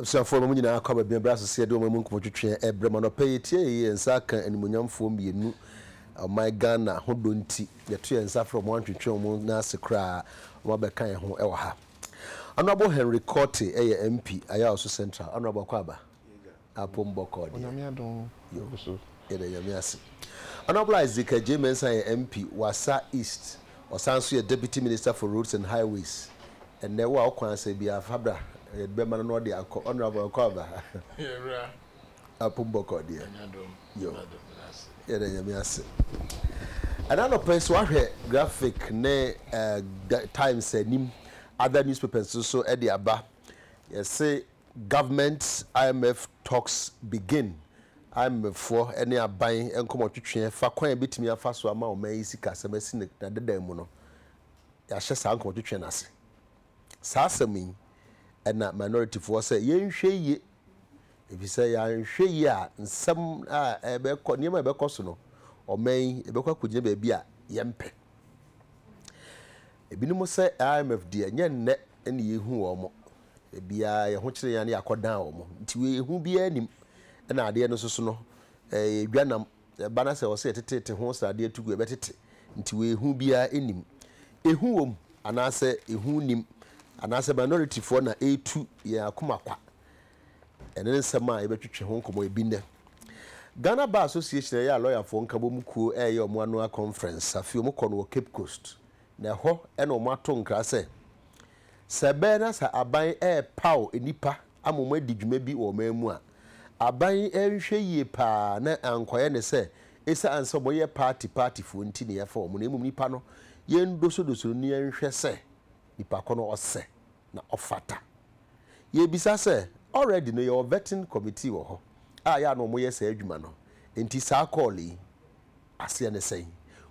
Abusuafoɔ no, mo nyinaa akɔ aba biabra so sɛ yɛde ɔman mu nkɔmmɔtwetweɛ rebrɛ mo. Anɔpa yi, yɛtie yɛn yɛ nsa aka animuonyamfoɔ mmienu a ɔman Ghana ho dɔ nti, yɛto yɛn nsa frɛ wɔn antwetwe wɔn nan ase koraa wɔabɛka yɛn ho wɔ ha. Honourable Henry Kortey yɛ MP, Ayaw-Aso Central. Honourable, kɔ aba. apom bɔkɔɔ deɛ. Onyame adom agu so. Yɛda Nyame ase. Honourable Isaac Adjei Mensah yɛ MP Wassa East, ɔsan nso yɛ Deputy Minister for Roads and Highways. Ɛnnɛ wo a wo kwan asɛe biara fa bra, yɛde bɛma no na ɔde akɔ. Honourable nkɔ aba. Yɛwura. Apom bɔkɔɔ deɛ. Nyame adom. Yo. Yɛda Nyame ase. Ɛna anɔpa yi sɛ wahwɛ Graphic ne eh, Times anim, other newspapers nso so ɛde aba. Yɛse Government IMF Talks Begin, IMF foɔ ne aban nkɔmɔtwetweɛ fa kwan a yɛbɛtumi afa so ama ɔman yi sikasɛm asi no n'adedan mu no, yɛahyɛ saa nkɔmɔtwetweɛ no ase. Saa asɛm yi, ɛna minority foɔ sɛ yɛnhwɛ yie, ɛfiri sɛ yɛanhwɛ yie a nsɛm a ɛbɛkɔ, nneɛma a ɛbɛkɔ so no, ɔman yi ɛbɛkɔ akɔgyina baabi a yɛmpɛ. Ebinom sɛ IMF deɛ, nyɛ nnɛ na yɛhu wɔn. Biaa yɛho kyere yɛn a ne yɛakɔ dan wɔn nti ehu biaa nnim ɛna adeɛ no soso no ɛyɛ dwa nam ɛba na sɛ ɔsɛ yɛtetete ho sradeɛ to gu yɛbɛtete nti ehu biaa nnim ehu wɔm anaasɛ ehu nnim anaasɛ minority foɔ na ɛretu yɛn akoma kwa ɛno ne nsɛm a yɛbɛtwetwe ho nkɔmɔ ebi nnɛ Ghana Bar Association ɛyɛ a lɔyafoɔ nkabom kuo ɛreyɛ wɔn annual conference afei wɔn kɔ no wɔ Cape Coast na ɛhɔ ɛna wɔn ato nkra sɛ Sɛ ɛbɛyɛ na sɛ aban repaw nnipa ama wɔadi dwuma bi wɔ ɔman mu a, aban yi anhwɛ yie paa na ankɔyɛ no sɛ esiane sɛ wɔyɛ party partyfoɔ nti na yɛfa wɔn na mmom nipa no yɛndosodoso no na yɛnhwɛ sɛ nipa ko no ɔsɛ na ɔfata. Yɛrebisa sɛ, already no yɛwɔ vetting committee wɔ hɔ a yɛ a na wɔyɛ saa adwuma no nti saa call yi aseɛ ne sɛn?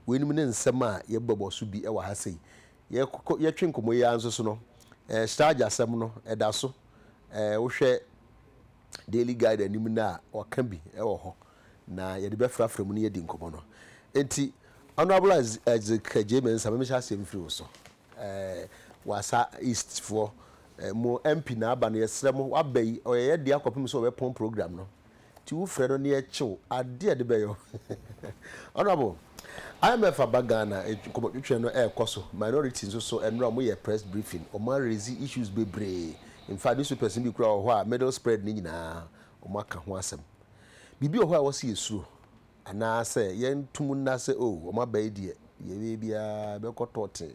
Weinom ne nsɛm a yɛbɛbɔ so bi wɔ ha sei. yɛkɔ yɛtwe nkɔmmɔ yi ara nso so no, ɛɛ Sturge asɛm no ɛda so. Ɛɛ wohwɛ Daily Guide anim no a, ɔka bi wɔ hɔ na yɛde bɛfrafra mu ne yɛadi nkɔmmɔ no. Enti Honourable Isaac Gyei Mensah, memehyɛ aseɛ mfiri wo so. Ɛɛ Wasa East foɔ, ɛɛ mo MP na aba no, yɛsrɛ mo, waba yi ɔyɛ yɛn dea kɔpem sɛ ɔbɛpɔn programme no. Nti wo frɛ no ne ɛkyew adeɛ a ɛde bɛyɔ Honourable, IMF aba Ghana, nkɔmmɔtwetwe no ɛrekɔ so, minorities nso so ɛnora wɔn yɛ press briefing, wɔn a raise issues bebree, in fact newspapers no bi koraa wɔ hɔ a middle spread no nyinaa wɔn aka ho asɛm. Biribi wɔ hɔ a ɛwɔ sɛ yɛsuro anaa sɛ yɛnto mu nna sɛ oh wɔn aba yi deɛ deɛ ɛbɛyɛ biara ɛbɛkɔ tɔɔtee.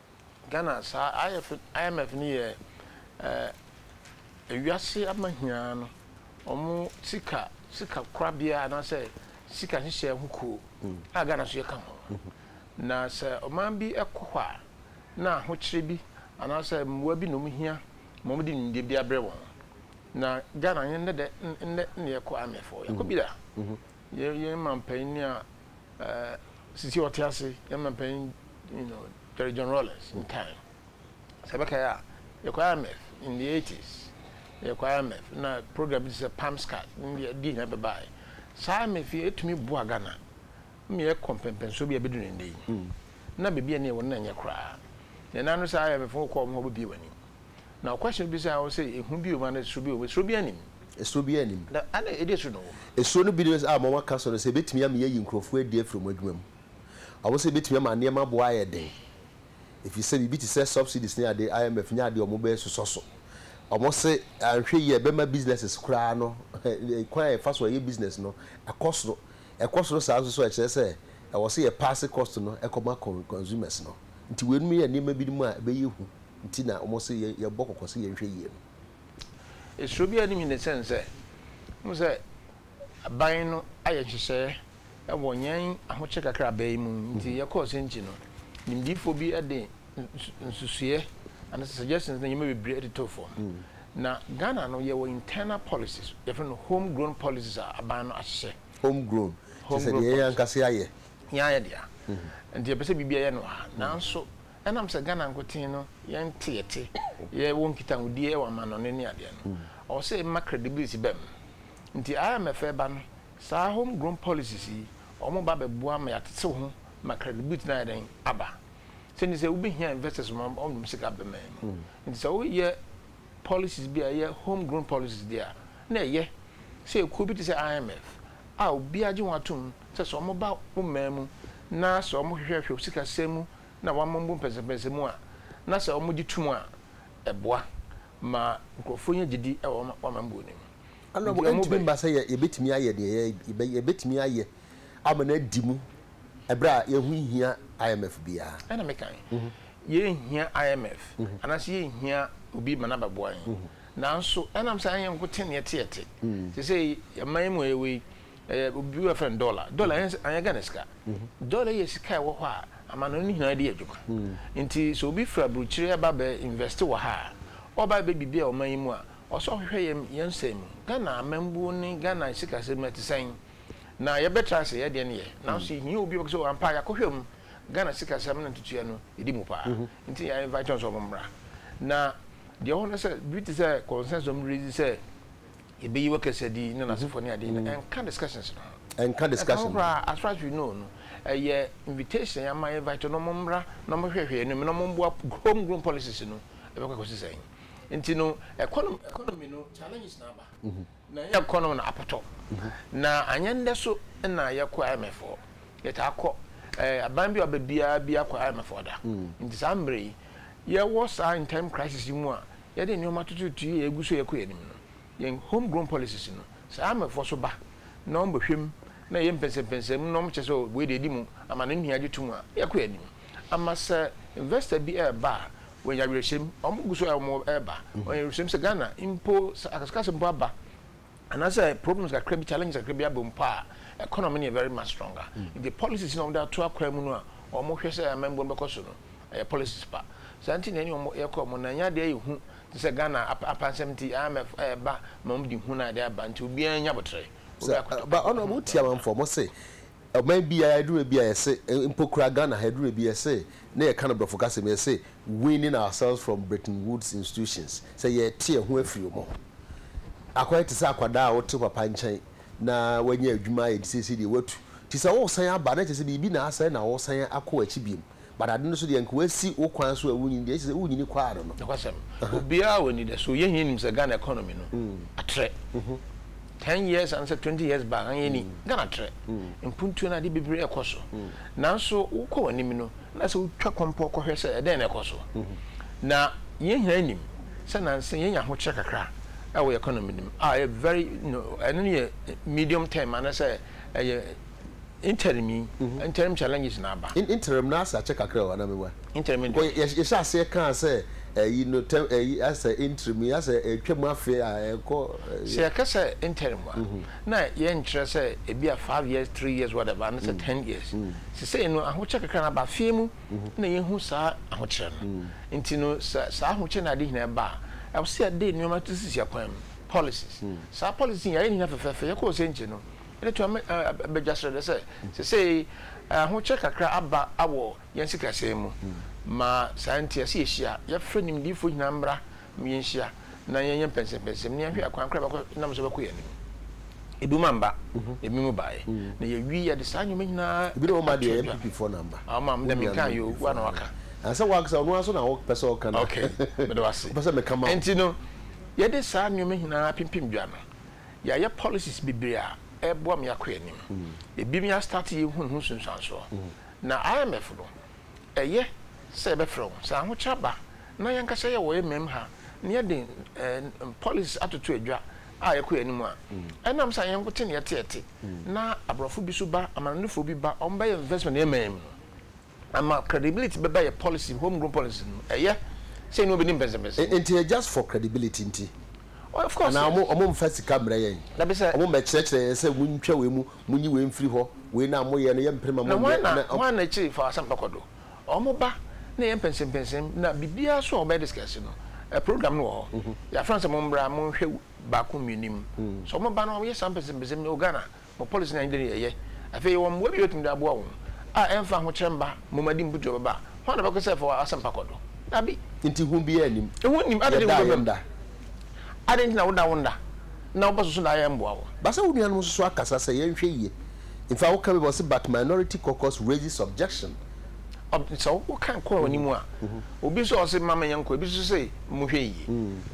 Ghana saa IF IMF no yɛ ɛɛ wiase amahiaa no ɔmo sika sika korabea anaasɛ sika nhyehyɛɛ ho kuo a Ghana nso yɛ ka ho. Na sɛ ɔman bi ɛkɔ hɔ a na ahokyerɛ bi anaasɛ mmoa bi na ɔmo hia ma ɔmo de nimdeɛ bi abrɛ wɔn. Na Ghana yɛn nnɛ dɛ nnɛ nnɛ na yɛkɔ IMF hɔ yɛkɔ bi da. Yɛn yɛn manpanin a ɛɛ sisi ɔte ase yɛn manpanin you know Jerry John Rawlings in time sɛ bɛka yɛ a yɛkɔ IMF in the eighties yɛkɔ IMF na program bi te sɛ palm scat ne deɛ deɛ nyinaa bɛbaeɛ saa IMF yi ɛtumi boa Ghana ma yɛkɔ mpɛmpɛnsoɔ bi a ɛbɛduru ne nnɛ yi na baabi a ne yɛwɔ no na ɛnyɛ koraa na ɛna no saa IMF wokɔ wɔn hɔ wobɛbie w'ani Na ɔkwɛhyɛ no bisaa hɔ sɛ, Ehu biom anaa esuro biom? Esuro biara nnim. Esuro biara nnim. Na adɛn edi so na ɔwom? Esuro no bi ne sɛ, a wɔn aka so no, sɛ ebetumi ama yɛayi nkurɔfo adi afiri wɔn adwuma mu. Wɔn sɛ ebetumi ama nneɛma bo ayɛ den, efisɛ biribi te sɛ subsidies ne ade, IMF nyɛ ade a wɔbɛsosɔ so. Wɔn se anhwɛ yie a ɛbɛma businesses koraa no, kwan a yɛfa so yɛ business no, akɔ soro. Ɛkɔ soro saa nso so a, ɛkyerɛ sɛ ɛwɔ sɛ yɛpaase cost no kɔma consumers no. Nti weinom yɛ nneɛma binom a ɛbɛyɛ hu. nti na wɔse yɛbɔ kɔkɔ sɛ yɛnhwɛ yie no. Suro biara nnim hene sɛn sɛ wohu sɛ aban no ayɛ nhyehyɛeɛ wɔ yɛn ahokyere kakrabaa yi mu nti yɛkɔɔ Senchi no, nimdeefoɔ bi de nsusuiɛ anaasɛ suggestions ne nneɛma bebree de too fam. Na Ghana no yɛwɔ internal policies, yɛfrɛ no home grown policies a aban no ahyehyɛ. Home grown, te sɛ deɛ yɛn ankasa yɛayɛ. Yɛayɛ dea. Nti yɛpɛ sɛ biribi yɛ no ha. Nanso Ɛnam sɛ Ghana nkoten no yɛn teɛte yɛ wɔ nkitahodie wɔ amannɔne ne adeɛ no, ɔwɔ sɛ yɛma credibility ba mu. Nti IMF ɛreba no, saa home grown policies yi, wɔn ba bɛboa ma yɛatetew ho ma credibility no ayɛ dɛn? Aba. Sɛ nti sɛ wo bɛhia investors ma wɔn nom sika aba man mu. Nti sɛ wo yɛ policies bi a ɛyɛ home grown policies deɛ a, na ɛyɛ sɛ ekuo bi te sɛ IMF a obiara gye wɔn atom sɛ sɛ wɔn ba wo man mu na sɛ wɔn hwehwɛ hwɛ wo sika sɛm mu na wɔama wɔn bo mpɛnsɛmpɛnsɛ mu a, na sɛ wɔgye tom a, ɛboa ma nkurɔfoɔ nya gyedi wɔ wɔn amambuo no mu. Ɛno Enti wɔn mu ɛntumi bɛ. mma sɛ yɛ, yɛbɛtumi ayɛ deɛ yɛ, yɛbɛ, yɛbɛtumi ayɛ ama no adi mu ɛberɛ a yɛho nhia IMF biara. Ɛna mekae. Yɛnhia IMF, anaasɛ yɛnhia obi ma no abɛboa yɛn. Nanso ɛnam sɛ ɛnyɛ yɛn nko te na yɛte yɛte. Seesei, yɛn man yi mu a yɛwɔ yi, Ɛyɛ obi a wɔfrɛ no dɔla. Dɔla yɛ anyɛ Ghana sika. Dɔla yɛ sika a ɛwɔ hɔ a amanɔne no nyinaa de yɛ adwuma. Nti sɛ obi firi aburokyire aba abɛ invɛste wɔ ha a, ɔreba abɛyɛ biribi wɔ ɔman yi mu a, ɔwɔ sɛ ɔhwehwɛ yɛn yɛn nsɛm mu. Ghana amambuo ne Ghana sikasɛm mu ɛte sɛn? Na yɛbɛtra ase yɛyɛ deɛn yɛ. Nanso yɛhia obi a ɔbɛka sɛ oh ampa yɛakɔhwɛ mu, Ghana sikasɛm ne ntotoeɛ no ɛdi mu paa. Nti yɛ invite wɔn sɛ wɔmmra. Na deɛ ɛwɔ hɔ ne sɛ biribi te sɛ consensus a wɔn rezi sɛ, Yɛbɛyi wo kɛsɛ din ne n'asefoɔ ne adeɛ no. Ɛnka discussions no ho. Ɛnka discussions. Ɛnka ho koraa. As far as we know no, ɛyɛ invitation yɛ ama invite no wɔmmra na wɔhwɛhwɛ yɛn anim na wɔmmoa home grown policies no ɛbɛkɔ akɔsi sɛn. Nti no economy economy no challenges na aba. Na ɛnyɛ economy na apɔtɔ. Na anyɛ ndɛ so na yɛkɔ IMF hɔ. Yɛtaa kɔ. Ɛɛ aban bi a ɔba biara bi akɔ IMF hɔ da. Nti saa mmerɛ yi yɛwɔ saa in time crisis yi mu a yɛde nneɛma tutuutu yi a egu so a ɛrekɔ yɛn anim no, yɛn home grown policies no, sɛ ayɛ a mmɔfra so ba na wɔbɛhwɛ mu na ɛyɛ mpɛnsɛmpɛnsɛm mu na wɔkyerɛ sɛ oh wei deɛ edi mu ama no nua gye tom a, yɛkɔ yɛn anim. Ama sɛ investor bi reba a, wɔanya awerɛhyɛm, wɔgu so a wɔreba, wɔanya awerɛhyɛm sɛ Ghana mpo, sɛ akasakasa mpo aba, Anaasɛ problems kakra bi, challenges kakra bi aba mu mpo a, economy no yɛ very much stronger. Nti policies no a wɔde ato akwan mu no a wɔhwɛ sɛ amammuo no bɛkɔ so no, ɛyɛ policies pa. Saa nti na ɛne wɔn yɛ kɔɔ mu na ɛnyɛ adeɛ a ɛyɛ hu te sɛ Ghana apansɛm nti IMF reba ma wɔde hu na ɛde aba nti obiara nya aboterɛ. Sɛ, ba Honourable wotie amanfoɔ, wɔse ɔman biara aduru baabi a yɛse, mpo koraa Ghana ha aduru baabi a yɛse na yɛka no Brɔfo kasa mu, yɛse weaning ourselves from Bretton Woods institutions, sɛ yɛrete yɛn ho afiri wɔn ho, akɔyɛ te sɛ akwadaa a ɔte papa nkyɛn na wanya adwuma ayɛ nti seesei deɛ watu. Nti sɛ woresan aba na kyerɛ sɛ biribi na asɛe na woresan akɔ akyi biom, but ade no so deɛ anka woasi wo kwan so a wonyini deɛ, ɛkyerɛ sɛ wonyini kɔ ara no no. Nokwasɛm. Obiara wɔ anidaso. Yɛn nyinaa nim sɛ Ghana economy no atrɛ. Ten years and sɛ twenty years back anyɛ ni Ghana trɛ mpuntuo no adeɛ bebree ɛkɔ so nanso wokɔ w'anim no na sɛ wotwa kɔmpɔ kɔhwɛ sɛ ɛdɛn na ɛkɔ so na yɛn nyinaa nim sɛ nansa yɛnya ahokyerɛ kakra ɛwɔ economy no mu a ɛyɛ very ɛno no yɛ medium term anasɛ ɛyɛ Interim yi interim challenges na aba. Interim no ase akyɛ kakra o anaa me wa? Interim no deɛ. Because yɛhyɛ aseɛ kaa sɛ ɛyi no tɛm ɛyi asɛ interim yi asɛ ɛtwa mu afe a ɛkɔ. Sɛ yɛka sɛ interim a na yɛn nkyerɛ sɛ ebi a five years three years whatever ana sɛ ten years sisei no ahokyɛ kakra na aba afei mu na yɛn hu saa ahokyerɛ no nti no sɛ saa ahokyɛ na ade nyinaa ba a ɛwɔ sɛ yɛde nnoɔma to sisi akwan mu policies saa policies yɛayɛ ne nyinaa fɛfɛɛfɛ yɛkɔ ɔsɛnkye no Ɛde toa Badwa Srɛdɛ sɛ, Seesei ahokyerɛ kakra aba wɔ yɛn sikasɛm mu. Ma saa nti, ɛsɛ yɛhyia. Yɛfrɛ nimdefo nyinaa mmra ma yɛnhyia na yɛnyɛ mpɛnsɛmpɛnsɛm na yɛnhwɛ akwan koro a ɛbɛkɔ nam so bɛkɔ yɛn anim. Ebinom amba, na ebinom bae, na yɛawie yɛde saa nneɛma nyinaa ato dwa. Ebinom amba deɛ, NPP foɔ na amba. Ɔma, me deɛ menkaa yɛ o, wo ara na waka. Sɛ wo ankasa ɔno ara nso na wopɛ sɛ ɔka na wopɛ sɛ meka ma wo. Enti no, yɛde saa nneɛma nyinaa pempem dwa no, Yɛayɛ policies bebree a ɛreboa me akɔ anim. Ebi me astarte yɛ hu ne ho nsunsuansoɔ. Na IMF no, ɛyɛ sɛ yɛbɛfrɛ wɔn. Sɛ ahokyerɛ ba na yɛn ankasa yɛ wɔ yɛn mmamu ha na yɛde policies atoto adwa a yɛkɔ yɛn anim a, ɛnam sɛ anyɛ yɛn nkote na yɛteɛte na aborɔfo bi nso ba, amanɔnefoɔ bi ba, wɔbɛyɛ investment yɛn man mu no, Ɛma credibility bɛba yɛ policy mu, home grown policy no mu. Ɛyɛ sɛ yɛne obi ne mpɛnsɛmpɛnsɛm mu. Nti yɛ just for credibility nti? Oh, of course, Anaa yes. wɔn mfa sika mmrɛ yɛn? Dabi sɛ. Wɔn mmɛkyerɛkyerɛ yɛn sɛ montwa wei mu, monyi wei mfiri hɔ, wei no a moyɛ no yɛmpere ma monyɛ. Na hwan na, hwan na akyiri fa asɛm pa kɔ do? Wɔn ba na ɛyɛ mpɛnsɛmpɛnsɛm na biribiara so a wɔbɛyɛ discuss no, ɛ, program no wɔ hɔ. Yɛafrɛ wɔn sɛ mommra monhwɛ baako mmienu mu. So wɔn ba na wɔyɛ saa mpɛnsɛmpɛnsɛm no, oh, Ghana, Bɔ policy no anigye ne yɛyɛ. Afei yɛwɔ mmoa bi a ebetumi de aboa wɔn, a ɛmfa ahokyere mma mmomadi mputu a ɛbɛba a. Hwan na ɔbɛkɔ sɛ fa w'asɛmpa kɔ do? Dabi. Enti hu biara nnim. Ehu nnim. Adɛn nti na Yɛdaa wobɛba yɛn mu? da. Adɛn nti na woda wo nna na wobɛso so daeɛ mmoa wo? Ba sɛ wo nuanom nso so akasa sɛ yɛnhwɛ yie mfa wo ka bi ma ɔse but minority caucus raises objection. Ob, Sɛ wo, woka kɔ wɔn anim a, obi nso a ɔse mma menyɛ nkɔ, ebi nso se mohwɛ yie.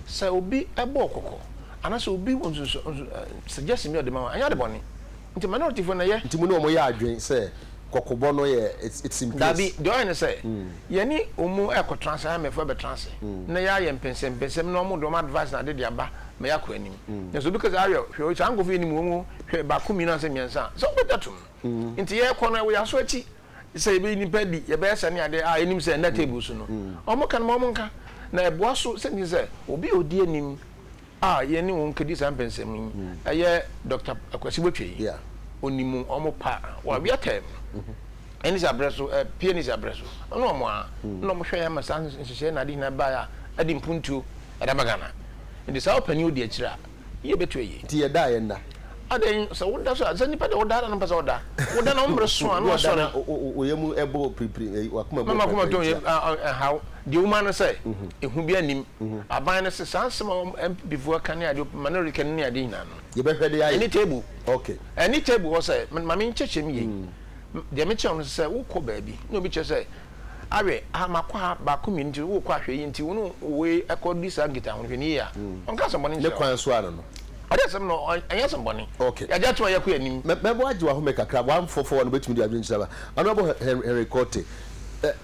Sɛ obi bɔ wo kɔkɔ Anaasɛ obi wɔ nsunsu nsu ɛ suggestion bi a ɔde ma wo a, ɛnyɛ ade bɔne. Nti minorityfoɔ na ɛyɛ. Nti mo ne wɔn yɛ adwene sɛ kɔkɔbɔ no yɛ it's it's in place. Daabi, deɛ ɔyɛ ne sɛ, yɛne wɔn ɛrekɔtra ase, IMF ɛbɛtra ase na yɛayɛ mpɛnsɛmpɛnsɛm na wɔn de wɔn advice na ade de aba ma yɛakɔ anim. Na sɛ obi ka sɛ Ariel, hwɛ o, saa nkorɔfoɔ yi nnim wɔn o, hwɛ, baako, mmienu ansa mmiɛnsa a, sɛ wobɛgye atom no. Nti yɛrekɔ no, ɛwɔ yɛn aso akyi. sɛ yɛbɛyi nnipa adi, yɛbɛyɛ sɛ ne adeɛ a yɛnim sɛ ɛnna table so no. Wɔka no ma wɔnka, na ɛboa so sɛ ntini sɛ obi a ɔdi anim a yɛne wɔn kɛdi saa mpɛnsɛm yi ɛyɛ Doctor Akwasi Botwei. Ɔnim wɔn pa, wawea term ɛne sɛ abrɛ so, pie ne sɛ abrɛ so, ɔne wɔn a na wɔhwɛ yɛn ma saa nhyehyɛeɛ na ade nyinaa baeɛ a ɛde mpuntuo ɛde aba Ghana. Nti saa ɔpanin ɔdi akyire a. Yie bɛtu ayi. Nti yɛda a yɛnda. Adɛn sɛ woda so a, sɛ nipa deɛ ɔda ara na ɔmpɛ sɛ ɔda. Woda na wo mmere so a na wasɔre. Woda na wo wo yam bɔ piripiri, ɛyi w'akoma bɔ piripiri. Na m'akoma tɔ yam a a ɛnhaw. Deɛ ɔma no sɛ, ehu biara nnim. Aban no se, saa nsɛm a wɔn NPP foɔ reka ne adeɛ, Manorika no ne adeɛ nyinaa no. Yɛbɛhwɛ de ayɛ. Ɛne table. Okay. Ɛne table hɔ sɛ, ma me nkyɛkyɛm yei. Deɛ mekyerɛ wo no sɛ, wokɔ baabi na obi kyerɛ sɛ. awɛ aha makɔ ha baako mmienu nti wokɔ ahwɛ yi nti wone wei ɛkɔ di saa nkita ho hwɛ ne yie a ɔnka asɛmbɔne nkyerɛ ne kwan so ano no ɔde asɛm no ɛnyɛ asɛmbɔne okay yɛagye atom a yɛkɔ anim mɛbɔ agye wɔ ahome kakra wɔamfɔfɔ wɔn bɛtumi de adwene kyerɛ Honorable Henry Korte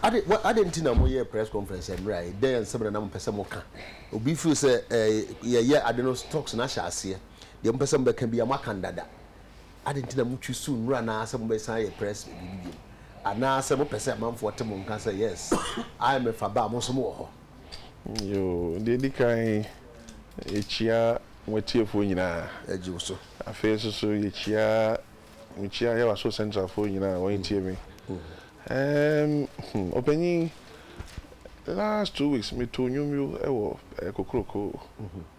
ade ade nti na moyɛ press conference mmerɛ a dɛn nsɛm na na mopɛ sɛ moka obi feel sɛ yɛyɛ ade no stocks no ahyɛ aseɛ deɛ mopɛ sɛ mobɛka bia moaka no dada Adɛn nti na motwi so nnuru anaasɛ mobɛsan ayɛ press wɔ biribi biom? Anaasɛ mopɛ sɛ amanfoɔ te mo nka sɛ, Yes, IMF aba a mo nso mowɔ hɔ? Yoo, deɛ ɛdi kan, yɛkyia mo atiefoɔ nyinaa. Yɛgye wo so. Afei nso so, yɛkyia, mekyia Yawaso Central foɔ nyinaa a wɔretie me. Ɛɛm, hmm, Ɔpanyin, last two weeks metoo nnwom bi wɔ Kokroko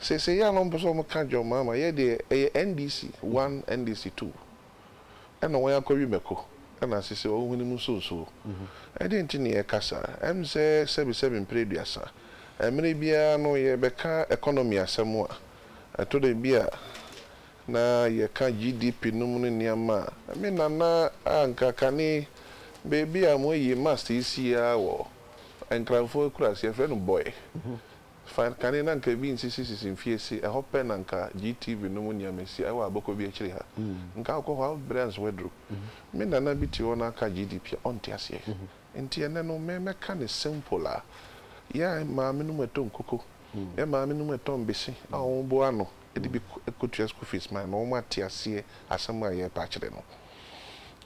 Seesei yɛ a na wɔpɛ sɛ wɔka John Mahama, yɛ deɛ ɛyɛ NDC one, NDC two, ɛna wɔn akɔwe mako, ɛna seesei wɔn hwenem nso nsuo. Ɛdeɛn nti na yɛreka saa? Ɛm sɛ sɛbisɛbi mprɛ aduasa, mmerɛ biara no yɛbɛka economy asɛm a, ɛtɔ da bi a na yɛka GDP nom ne nneɛma a. Me Nana a nka kane baabi a wɔayi mast yi si ara wɔ Nkranfoɔ akuraase, yɛfrɛ no Bɔe, Fine kane na nka ebi nsisi sisi mfiase, ɛhɔ pɛ na nka GTV no mu nneɛma asi, ɛwɔ abɔkɔ bi akyiri ha. Nka wokɔ hɔ a wo bere anso aduru. Me nana bi te hɔ na aka GDP a, ɔnte aseɛ. Nti ɛnnɛ no me mɛka no simple a, yɛn maame no mu ɛtɔ nkuku, yɛn maame no mu ɛtɔ mbese a wɔn boa ano de bi kɔtua school fees ma no, wɔn ate aseɛ asɛm a yɛrepɛ akyerɛ no.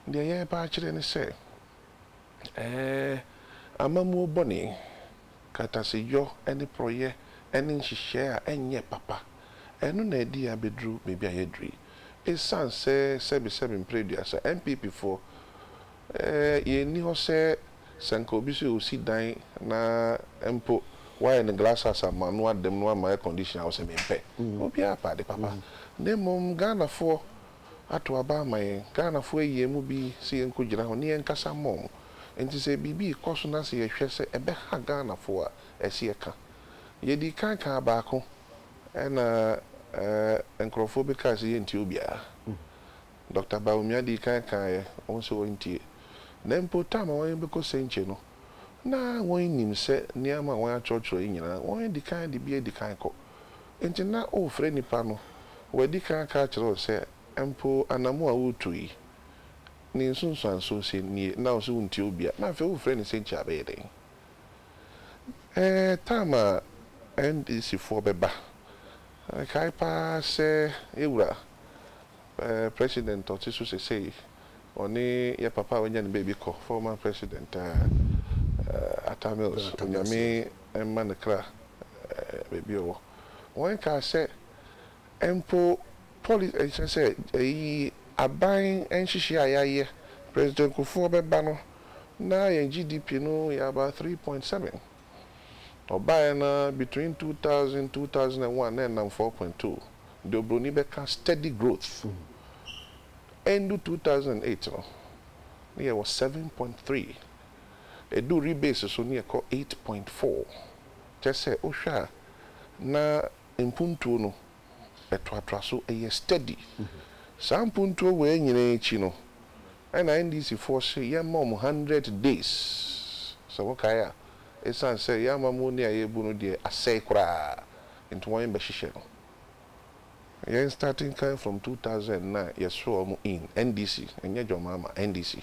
Deɛ yɛrepɛ akyerɛ ne sɛ, ɛɛ amammuo bɔne. Kataseyɔ ne porɔeɛ ne nhyehyɛɛ a ɛnyɛ papa. Ɛno na adi yɛn abɛduru baabi a yɛaduru yi. Ɛsiane sɛ sɛbesɛbe mprɛ aduasa, NPP foɔ, yɛn nni hɔ sɛ sɛ nka obi sɛ ɔsi dan na mpo wayɛ no glass house ama no, wada mu na wama air condition a, ɔsɛ mempɛ. Obiara pɛ ade papa. Na mmom Ghanafoɔ ato aba ama yɛn. Ghanafoɔ ayi yɛn mu bi sɛ yɛnkɔgyina hɔ ne yɛnkasa mma wɔn. Enti sɛ biribi rekɔ so na sɛ yɛhwɛ sɛ ɛbɛha Ghanafoɔ a, ɛsɛ yɛka. Yɛdii kan kaa baako, ɛnna nkurɔfoɔ bi kaa sɛ yɛntie obiara. Dɔkta Bawumia dii kan kaeɛ, wɔn sɛ wɔntie. Na mpo tam a wɔn bɛkɔ Sɛnkye no, na wɔnnim sɛ nneɛma a wɔatwerɛtwerɛ yi nyinaa, wɔadi kan de bi adi kan kɔ. Enti na worefrɛ nnipa no, wɔadi kan aka akyerɛ wo sɛ mpo anammɔn a woretu yi, ne nsunsuanso sɛ nie, na wo se wontie obiara, na afei worefrɛ no sɛ nti abɛyɛ dɛn? Ɛɛ, time a NDC foɔ bɛba, mekae paa sɛ yɛ wura ɛɛ president a ɔte so sesei, ɔne yɛ papa a wanya ne baabi kɔ, former president ɛɛ Atta Mills, Onyame mma ne kra. baabi a ɔwɔ. Wɔkaa sɛ mpo polis nkyerɛ sɛ eyi aban nhyehyɛe a yɛayɛ, President Kufuor bɛba no na yɛn GDP no yɛ about three point seven. Ɔbaeɛ no ara between two thousand, two thousand and one na ɛnam four point two. Deɛ obroni bɛka steady growth. Ɛndu two thousand and eight no na yɛwɔ seven point three. Ɛdu rebase so na yɛkɔ eight point four. Kyerɛ sɛ wohwɛ a na mpuntuo no toatoa so, ɛyɛ steady. Saa mpuntuo wei nyinaa akyi no, ɛna NDC foɔ se yɛmma wɔn hundred days, sɛ wokae a, ɛsiane sɛ yɛn amammuoni a yɛrebu no deɛ asɛe koraa nti wɔn bɛhyehyɛ no. Yɛn starting kan from two thousand na yɛsrɛ wɔn in, NDC, ɛnyɛ John Mahama, NDC.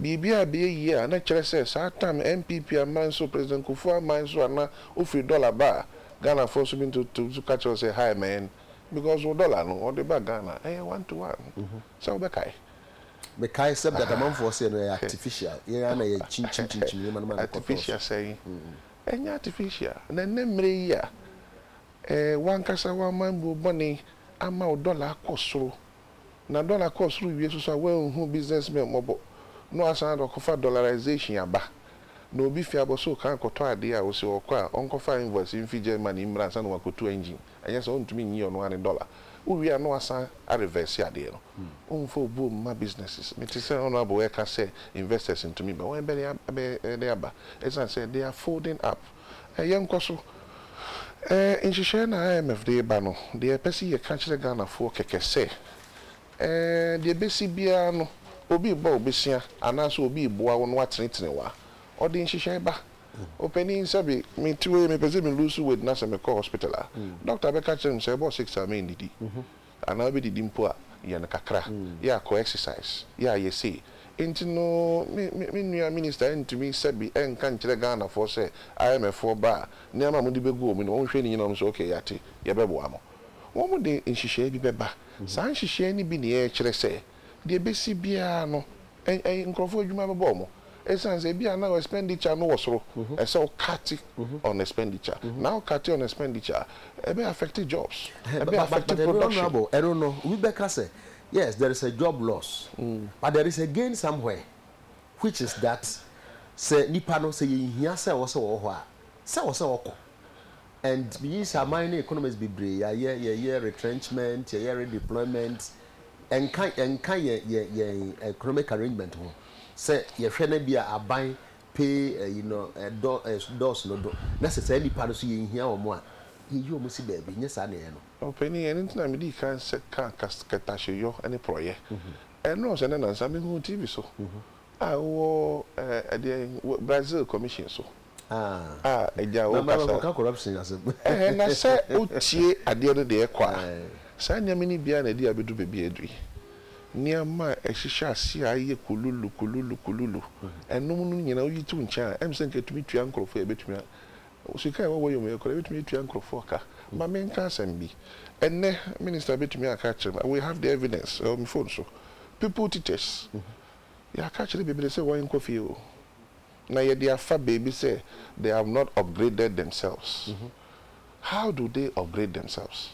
Biribi a ɛbɛyɛ yie a na ɛkyerɛ sɛ saa tam NPP aman so, President Kufuor aman so a na wofiri dɔla ba a, Ghanafoɔ nso bi nso ka kyerɛ wo sɛ hi man because wo dɔla no wɔde ba Ghana ɛyɛ one to one. Sɛ wobɛkae? Mekae sɛ dada amanfoɔ sɛ no ɛyɛ artificial, yɛn ara na yɛ kyinkyim kyinkyim nneɛma no ma no kɔtɔɔ so. Artificial sɛn? Ɛnyɛ artificial. Na ɛnnɛ mmerɛ yi a, wankasa wamanbuo bɔne ama wo dɔla akɔ soro, Na dɔla kɔɔ soro wie soso a wanhu business men mmɔbɔ na wasan de ɔkɔfa dollarization aba. Na obi fi abɔso kan kɔtɔ adeɛ a ose ɔkɔ a ɔnkɔfa invoice mfi Germany mmra ansa na wakɔtu engine anyɛ saa ɔntumi nyi ɔno ara ne dɔla. Wowie a na wasan areverse adeɛ no. Womfa obuo mma businesses. Mete sɛ Honourable reka sɛ investors ntumi ba. Wɔn bɛn abɛn de aba ɛsiane sɛ they are folding up. yɛnkɔ so. Nhyehyɛɛ no a IMF de reba no, deɛ yɛpɛ se yɛka kyerɛ Ghanafoɔ kɛkɛ sɛ, deɛ ɛbɛsi biara no, obi rebɔ wo bɛsua anaasɛ obi reboa wo no watenetene wo a, ɔde nhyehyɛɛ ba. Opanin, sɛbe mete hɔ yi mepɛ sɛ me lose weight na sɛ mekɔ hospital a, doctor bɛka kyerɛ me sɛ ɛbɔɔ six a mennidi. Anaa wobedidi mpo a, yɛ no kakra. Yɛ akɔ exercise. Yɛ ayɛ sei. Enti no me me me nua minister antumi sɛbe ɛnka nkyerɛ Ghanafoɔ sɛ IMFfoɔ ba a, nneɛma a mode bɛgu wɔn anim, wɔnhwɛ ne nyina wɔn sɛ ok yɛate, yɛbɛboa mo. Wɔn de nhyehyɛɛ bi bɛba. Saa nhyehyɛɛ no bi na ɛrekyerɛ sɛ. deɛ ɛbɛsi biara no, nkorɔfoɔ adwuma bɛbɔɔ mo, ɛsiane sɛ ebia na wo expenditure no wɔ soro, ɛsɛ sɛ wo cut on expenditure, na wo cut on expenditure a, ɛbɛ affect jobs, ɛbɛ affect production. But ɛno honourable, ɛno no, obi bɛka sɛ, yes, there is a job loss, but there is a gain somewhere, which is that, sɛ nipa no, sɛ yɛnhia sɛ ɔwɔ sɛ ɔwɔ hɔ a, sɛ ɔwɔ sɛ ɔkɔ. and meyi sɛ aman ne economies bebree yɛayɛ, yɛyɛ retrenchment, yɛyɛ redeployment, ɛnka ɛnka yɛn yɛn yɛn economic arrangement ho. Sɛ yɛhwɛ no bi a aban pay ɛyi no ɛdɔ ɛdɔɔso no do na sɛ saa nnipa no nso yɛnhia wɔn a yɛyi wɔn si baabi, ɛnyɛ saa na ɛyɛ no. Ɔpanin, ɛno nti na medii kan sɛ kaa kas kɛtahyeyɔ ne porɔeɛ. Ɛnnɔɔso ɛnnɛ nansa mehuu TV so Ah wowɔ eh ɛdeɛn wɔ Brazil commission so ah ah agya wo kasa. Na kɔka corruption asɛm. Ɛhɛn na sɛ wotie adeɛ no deɛ ɛkɔ a saa nneɛma no biara na ɛde abɛdu baabi a ɛduru yi. Nneɛma a ɛhyehyɛ aseɛ a ayɛ kululu kululu kululu ɛnom no nyinaa woyi to nkyɛn a ɛm sɛ nka ɛtumi tua nkorɔfoɔ a ɛbɛtumi a sika a ɛwɔ wɔyɛ mu yɛ koraa ɛbɛtumi atua nkorɔfoɔ ka. Ma menka asɛm bi ɛnnɛ minister bɛtumi aka akyerɛ me, I will have the evidence ɛwɔ me phone so, people teachers Yɛaka akyerɛ bebree sɛ wɔnkɔ fie o, na yɛde afa baabi sɛ they have not upgraded themselves. How do they upgrade themselves?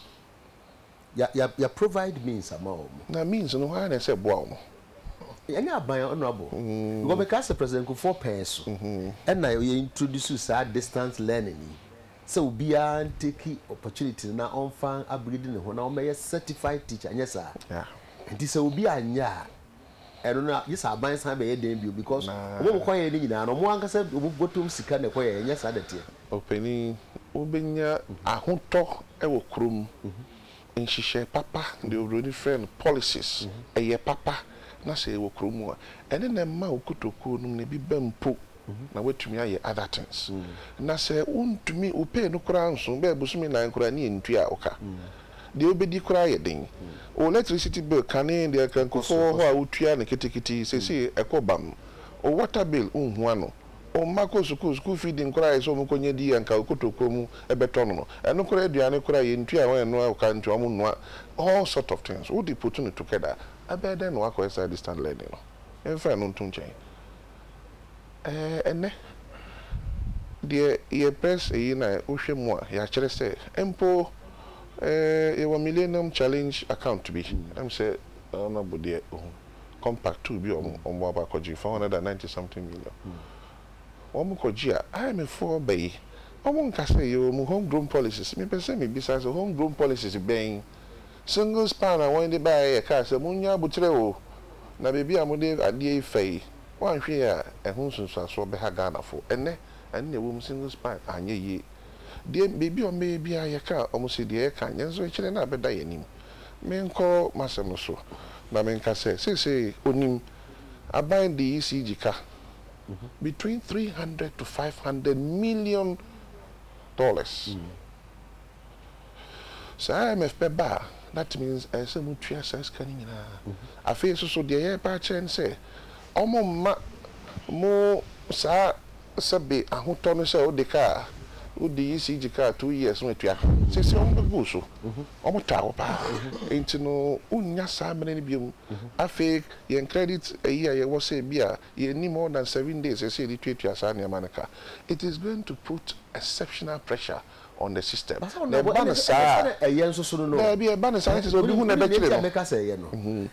Yɛ, yɛ, yɛ provide means ama wɔn. Na means no, hwan na ɛsɛ boa wɔn? Ɛnyɛ aban, Honourable, because mekaa sɛ President Kufuor pɛɛ so ɛna yɛ introduce saa distance learning yi sɛ obiara ntake opportunity no na ɔmfa upgrade ne ho na ɔmmɛyɛ certified teacher, ɛnyɛ saa? Nti sɛ obi anyɛ a, ɛno no a gye sɛ aban san bɛyɛ dɛn bio because ɔmo a ɔmo kɔyɛɛ no nyinaa no ɔmo ankasa ɔmo bɔtɔm sika na ɛkɔyɛɛ ɛnyɛ saa na ɛteɛ. Ɔpanin, wobɛnya ahotɔ wɔ kurom. Nhyehyɛe papa, deɛ obroni frɛ no policies, ɛyɛ papa na sɛ ɛwɔ kurom a, ɛno na ɛma wo kotokuo nom no ebi ba mpo. na woatumi ayɛ other things na sɛ wontumi wo pay no koraa nso bɛyɛ bosome nnan koraa ne ɛntua a woka deɛ wobɛdi koraa yɛ den wo electricity bill kane deɛ kankufoɔ wɔ hɔ a wotua no ketekete seisei ɛkɔ bam wo water bill wonhu ano wo mma kɔ sukuu school feeding koraa yɛ sɛ wɔn kɔnya di anka wo kotokuo mu bɛtɔ no no ɛno koraa aduane koraa yɛntua a wɔn ɛnoa a woka ntua wɔn nnua all sort of things wode put no together ɛbɛyɛ dɛn na woakɔyɛ saa distant learning no yɛmfa ɛno nto nkyɛn. Ɛɛ, ɛnnɛ deɛ yɛpɛ sɛ yei na wohwɛ mu a, yɛakyerɛ sɛ mpo ɛɛ yɛwɔ Millennium Challenge account bi, ɛm sɛ Honourable deɛ ɔhu compact tool bi a wɔn wɔn aba akɔgye, four hundred and ninety something million. Wɔn kɔgye a, IMF foɔ ba yi, wɔn nka sɛ yɛwɔ mu home grown policies. Mepɛ sɛ mebisa sɛ home grown policies bɛn? Singles pan a wɔn de baeɛ yɛ kaa sɛ monnya aboterɛ o, na baabi a mode adeɛ yi fa yi, woanhwɛ yie a ɛho nsunsuansoɔ bɛha Ghanafoɔ. Ɛnnɛ, ɛno na ɛwom, Singles pan anyɛ yie. Deɛ baabi a wɔbɛyɛ biara yɛkaa wɔn sɛ deɛ yɛka nyɛ, nso ɛkyerɛ no a ɛbɛda yɛn anim. Menkɔ m'asɛm no so na menka sɛ seesei ɔnim aban de ECG ka between three hundred to five hundred million dollars. Sɛ IMF bɛba a, that means ɛsɛ sɛ motua saa sika no nyinaa. Afei nso so deɛ yɛreba akyerɛ ne sɛ, wɔmma mo saa sɛbe ahotɔ no sɛ wode kaa, wode ECG kaa two years na watua ka. Seesei wɔbɛgu wo so, wɔtaa wo paa. Enti no wonnya saa mmerɛ no bio. Afei yɛn credit ayi a yɛwɔ sɛ ebia yɛnni more than seven days a ɛsɛ sɛ yɛde tuatua saa nneɛma no ka. It is going to put exceptional pressure on the system. Na ɛba no saa a. Daabi, ɛba no saa na kyerɛ sɛ obi ho na ɛbɛkyere no.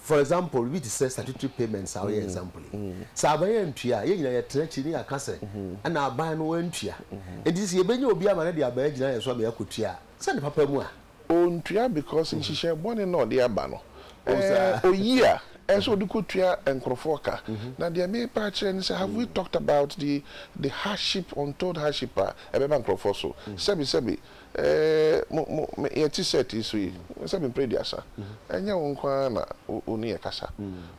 For example, biribi te sɛ statutory payments a woyɛ example yi, sɛ aban antua a, yɛn nyinaa yɛtena akyiri na yɛaka sɛ ɛna aban no antua. Enti sɛ yɛbɛnya obi ama no de aban agyina yɛn so ama yɛakɔtua a, sɛ ne papa mu a, Ɔntua because nhyehyɛɛ bɔne na ɔde aba no. Ɔyi a, ɛsɛ sɛ ɔde kɔtua nkorɔfoɔ ka. Na deɛ merepɛ akyerɛ ne sɛ, have we talked about the the hardship, untold hardship a ɛbɛba nkorɔfoɔ so? Sɛbe sɛbe, mo mo me yɛte set yi so yi, sɛbe mprɛ aduasa, ɛnyɛ wo nko ara na wo wo ne yɛ kasa.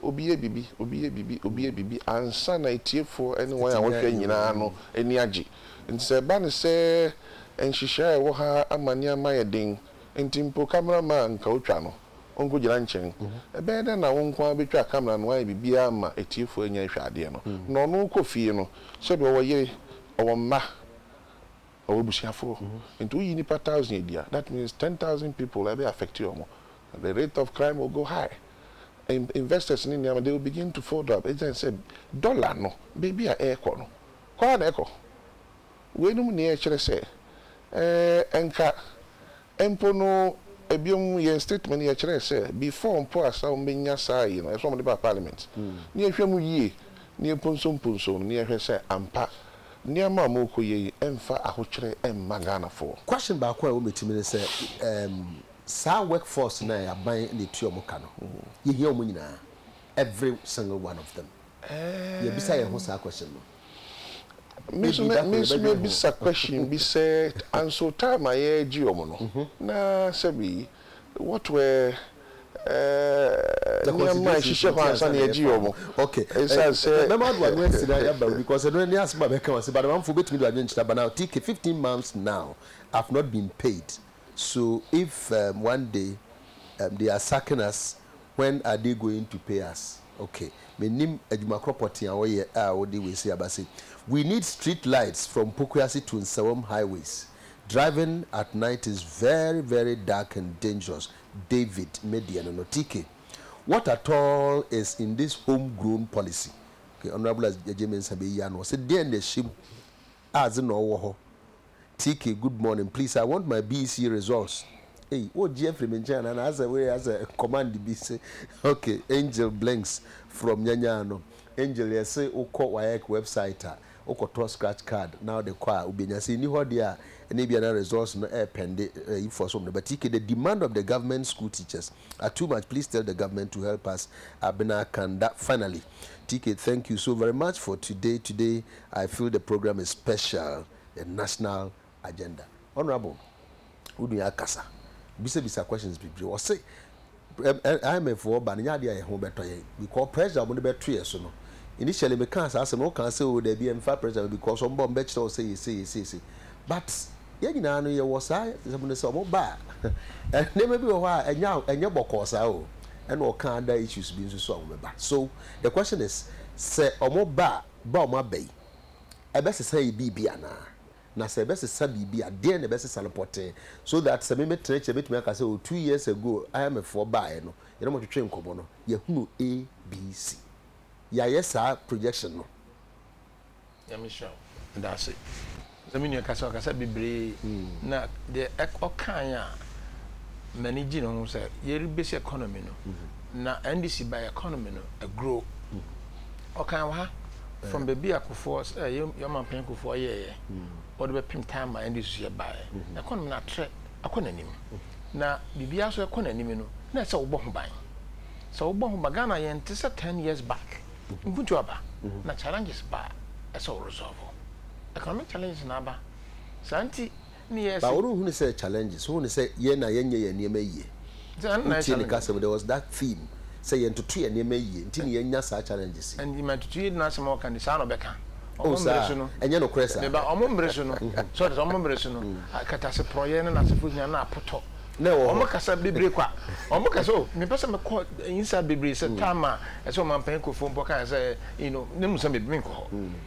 Obi yɛ biribi, obi yɛ biribi, obi yɛ biribi ansa na atiefoɔ ne wɔn a wɔhwɛ nyinaa no ani agye. Enti sɛ ɛba no sɛ nhyehyɛe a ɛwɔ ha ama nneɛma ayɛ den nti mpo kamera ma a anka otwa no, onkogyina nkyɛn. Ɛbɛyɛ dɛn na wo nko ara betwa kamera na woayɛ biribiara ama atiefo anya nhwɛadeɛ no? Na ɔno wokɔ fie no, sɛdeɛ ɔwɔ yere, ɔwɔ mma, ɔwɔ abusuafoɔ. Enti woyi nnipa thousand adi a, that means ten thousand people a ɛbɛ affect wɔn. The rate of crime will go high. Investors ne nneɛma, they will begin to fold up ɛsiane sɛ dollar no baabi a ɛrekɔ no, Kɔ ara na ɛkɔ. Weinom nea ɛkyerɛ sɛ, ɛɛ, nka mpo no, biom, yɛn statement no yɛkyerɛɛ sɛ, before mpo a sɛ wɔbɛnya saa ayi no, ɛsɛ sɛ wɔde ba parliament, na yɛhwɛ mu yie, na yɛmponsomponsom no, na yɛhwɛ sɛ ampa nneɛma a wɔrekɔyɛ yi mfa ahokyerɛ mma Ghanafoɔ. Question baako a ɛwɔ me tirim ne sɛ, ɛɛm, saa work force no a aban na ɛtua wɔn ka no, yɛhia wɔn nyinaa, every single one of them. Yɛbisa yɛn ho saa question no. Me so me me so me bisa question bi sɛ anso time a yɛ gye wɔn no na sɛ bi what were ɛɛ nneɛma ɛhyehyɛ hɔ ansa na yɛ gye wɔn ɛsan sɛ. Mɛ ma do ano ɛsi na yɛ ba obi cause ɛno ɛni ase ba bɛ kan wɔn se but amanfo bɛ tumi do adwene kyerɛ but now TK fifteen months now I've not been paid so if um one day um they are sacking us When are they going to pay us? Ok mennim adwuma korɔ pɔtee a wɔyɛ a wode wei sei aba sei We need street lights from Pokuase to Nsawam highways Driving at night is very very dark and dangerous David me deɛ no no TK What at all is in this home grown policy? Ok Honourable Agyei Mensah bɛyi ano ɔse deɛn na ɛhyɛ mu a dze na ɔwɔ hɔ TK good morning please I want my BEC results ei wogye afiri me nkyɛn anaa na asɛ wei asɛ command bi se ok Angel Blinks from nyanyaa no Angel yɛse wokɔ WAEC website a wokɔtɔ scratch card na wode kɔ a wobenya sɛ nni hɔ deɛ a ɛne ebia na results no ɛɛpɛnde ayi foɔ so no but TK the demand of the government school teachers are too much please tell the government to help us Abena Kanda finally TK thank you so very much for today today I feel the program is special yɛ national agenda honourable wo nua akasa bisa bisa questions bebree ɔse IMF foɔ ba no nyɛ adeɛ a yɛ ho bɛtɔ yɛn because pressure wɔn de bɛto yɛ so no initially me kaa saa asɛm no ɔkaa sɛ o daabi ɛmfa pressure no because wɔn ba wɔn bɛkyerɛ wo sɛ yɛ sei yɛ sei sei but yɛn nyinaa no yɛwɔ saa asɛm no sɛ wɔn ba a nneɛma bi wɔ hɔ a ɛnyɛ ɛnyɛ bɔkɔɔ saa o ɛna ɔkaa ada issues bi nso so a wɔn bɛba so the question is sɛ wɔn ba a ba a wɔaba yi, ɛbɛsesa yɛn biribi anaa? Na sɛ ɛbɛsesa biribi a, deɛn na ɛbɛsesa no pɔtee? So that sɛ memetena akyi a, mɛtumi aka sɛ, oh, two years ago, IMF foɔ baeɛ no, yɛne wɔn twetwee nkɔmmɔ no, yɛhunu A, B, C. Yɛayɛ saa projection no. Nyame nhyira wo. Meda ase. Na me nua ka sɛ, Ɔkasa bebree, na deɛ ɔkaeɛ a m'ani gyee ne ho sɛ, yɛrebase economy no, na NDC baeɛ a economy no grow. Ɔkaeɛ wɔ ha, from baabi a Kufuor, eh, yɛn yɛn ɔmanpanyin Kufuor yɛeɛ, wɔde bɛpem time a NDC so yɛbaeɛ, economy no atrɛ akɔ n'anim. Na biribiara nso ɛkɔ n'anim no, na ɛsɛ sɛ wobɔ ho ban. Sɛ wobɔ ho ban, Ghana yɛnte sɛ ten years back, mpuntuo aba, na challenges ba a, ɛsɛ sɛ wo resolve. Economic challenges na aba. Saa nti ne yɛɛ But se. worenhu no sɛ challenges, wohu no sɛ yɛn na yɛnyɛ yɛn nneɛma yie. Nti ɛno na ɛyɛ Wotie ne challenges. kasa mu, there was that theme sɛ yɛntoto yɛn nneɛma yie nti na yɛnya saa challenges yi. Ɛnti ma tutu yie no asɛm a ɔka nti saa na ɔbɛka. Oh Ɔmo mmere saa? so no, Ɛnyɛ nokorɛ saa? me ba, ɔmo mmere so no, so ɔte aseɛ, ɔmo mmere so no, akataase porɔeɛ ne nasefo hia no apotɔ. Na ɛwɔ hɔ. Ɔmo kasa bebree kwa. Ɔmo ka sɛ, oh, mepɛ sɛ mekɔ inside bebree sɛ time a ɛsɛ ɔmanpanyin Kufuor mpo kaeɛ sɛ, you know, ne mu sɛ me, menkɔ hɔ.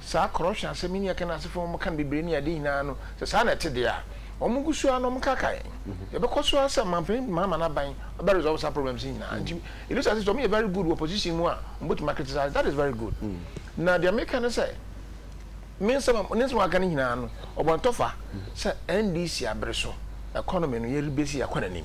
Saa corruption asɛm yi ne yɛka no asefo a wɔka no bebree ne ade nyinaa no, sɛ saa na ɛte deɛ a, wɔngu so ara na wɔnkaka yɛn. Yɛbɛkɔ so ara sɛ ɔmanpanin de mama no aban, ɔbɛ resolve saa problems yi nyinaa. Nti Elisha se sɛ wɔyɛ very good wɔ position mu a, wɔbɛtumi a criticize, that is very good. Na deɛ meka ne sɛ, me nsɛm a, ne nsɛm a waka no nyinaa no, ɔbɔ ntɔfa sɛ NDC abere so, economy no yɛrebase akɔ n'anim.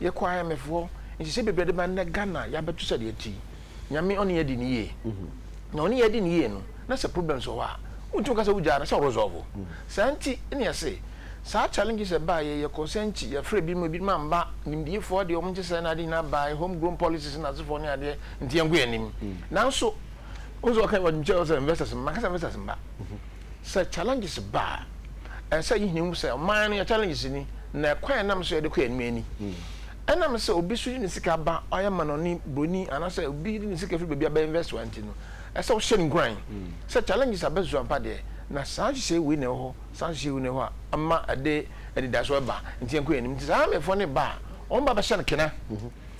Yɛkɔ IMF hɔ nhyehyɛ bebree de ba nnɛ Ghana yɛabɛto sɛdeɛ ɛte yi Nyame ɔne yɛ adi no yie na ɔne yɛ adi no yie no na sɛ problems wɔ hɔ a wontumi nka sɛ wogyaa no sɛ wo resolve saa nti ne yɛse saa challenges ɛbaa yɛ yɛ concern nti yɛfrɛ binom ebinom amba nimdiefoɔ deɛ wɔn nkyɛ sɛɛ na ade nyinaa baeɛ home grown policies na asefoɔ ne adeɛ nti yɛnko yɛn anim nanso wohu sɛ wɔka wɔnkyɛ sɛ investors mma nka sɛ investors mma sɛ challenges ba a, ɛsɛ sɛ yɛhia mu sɛ ɔman no yɛ challenges ni, na ɛkwan a ɛnam so yɛde kɔ anim ni. Ɛnam sɛ obi nso de ne sika ba, ɔyɛ amanɔne, buroni, anaasɛ obi de ne sika firi baabi aba invest wa nti no, ɛsɛ sɛ wohyɛ no nkuran sɛ challenges aba su ampa deɛ, na saa nhyehyɛe wei na ɛwɔ hɔ, saa nhyehyɛe wei na ɛwɔ hɔ a ama ɛde anidasoɔ bɛba, nti yɛnkɔ yɛn anim. Nti saa amefoɔ no reba a, wɔn ba bɛhyɛ no kena.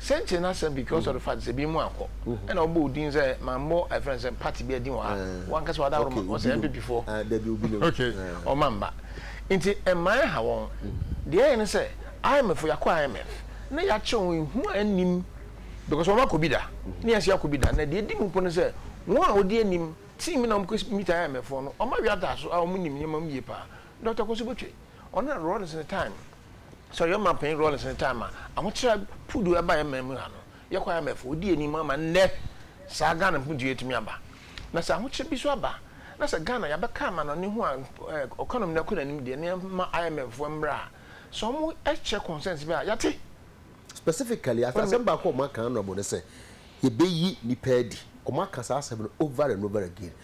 Sɛnkyerɛ no asɛm because of the fact sɛ binom ankɔ ɛna wɔbɔ wo din sɛ mammɔ ɛfrɛ no sɛ party biara din wɔ ha wankasa wadaworo ma wɔn sɛ NPP foɔ okay wɔma mma nti mmaa ɛha wɔn deɛ ɛyɛ ne sɛ IMF foɔ yɛakɔ IMF na yɛakyerɛ wɔn ehu a ɛnnim because wɔn akɔ bi da ne yɛn nso yɛakɔ bi da na deɛ ɛdi mu mpo ne sɛ wɔn a wɔdi anim team bi na wɔn kɔ meet IMF foɔ no wɔn awi ataaso a wɔn nim nneɛma mu yie paa Doctor Kosubotwe ɔno na Rawlings ne time Sɛ ɔyɛ Ɔmanpanyin Rawlings ne time a ahokyerɛ puduw ɛba yɛn man mu ha no, yɛkɔ IMF, odi anim ama nnɛ saa Ghana mpuduw yi atumi aba. Na sɛ ahokyerɛ bi nso aba na sɛ Ghana yɛabɛka amanɔne ho a economy no akɔ n'anim deɛ, na yɛmma IMF foɔ mmra a, sɛ wɔkyerɛ concerns bi a, yɛate. Specifically, asɛm baako a wɔaka, Honourable, ne sɛ yɛbɛyi nnipa adi. Wɔaka saa asɛm no over and over again.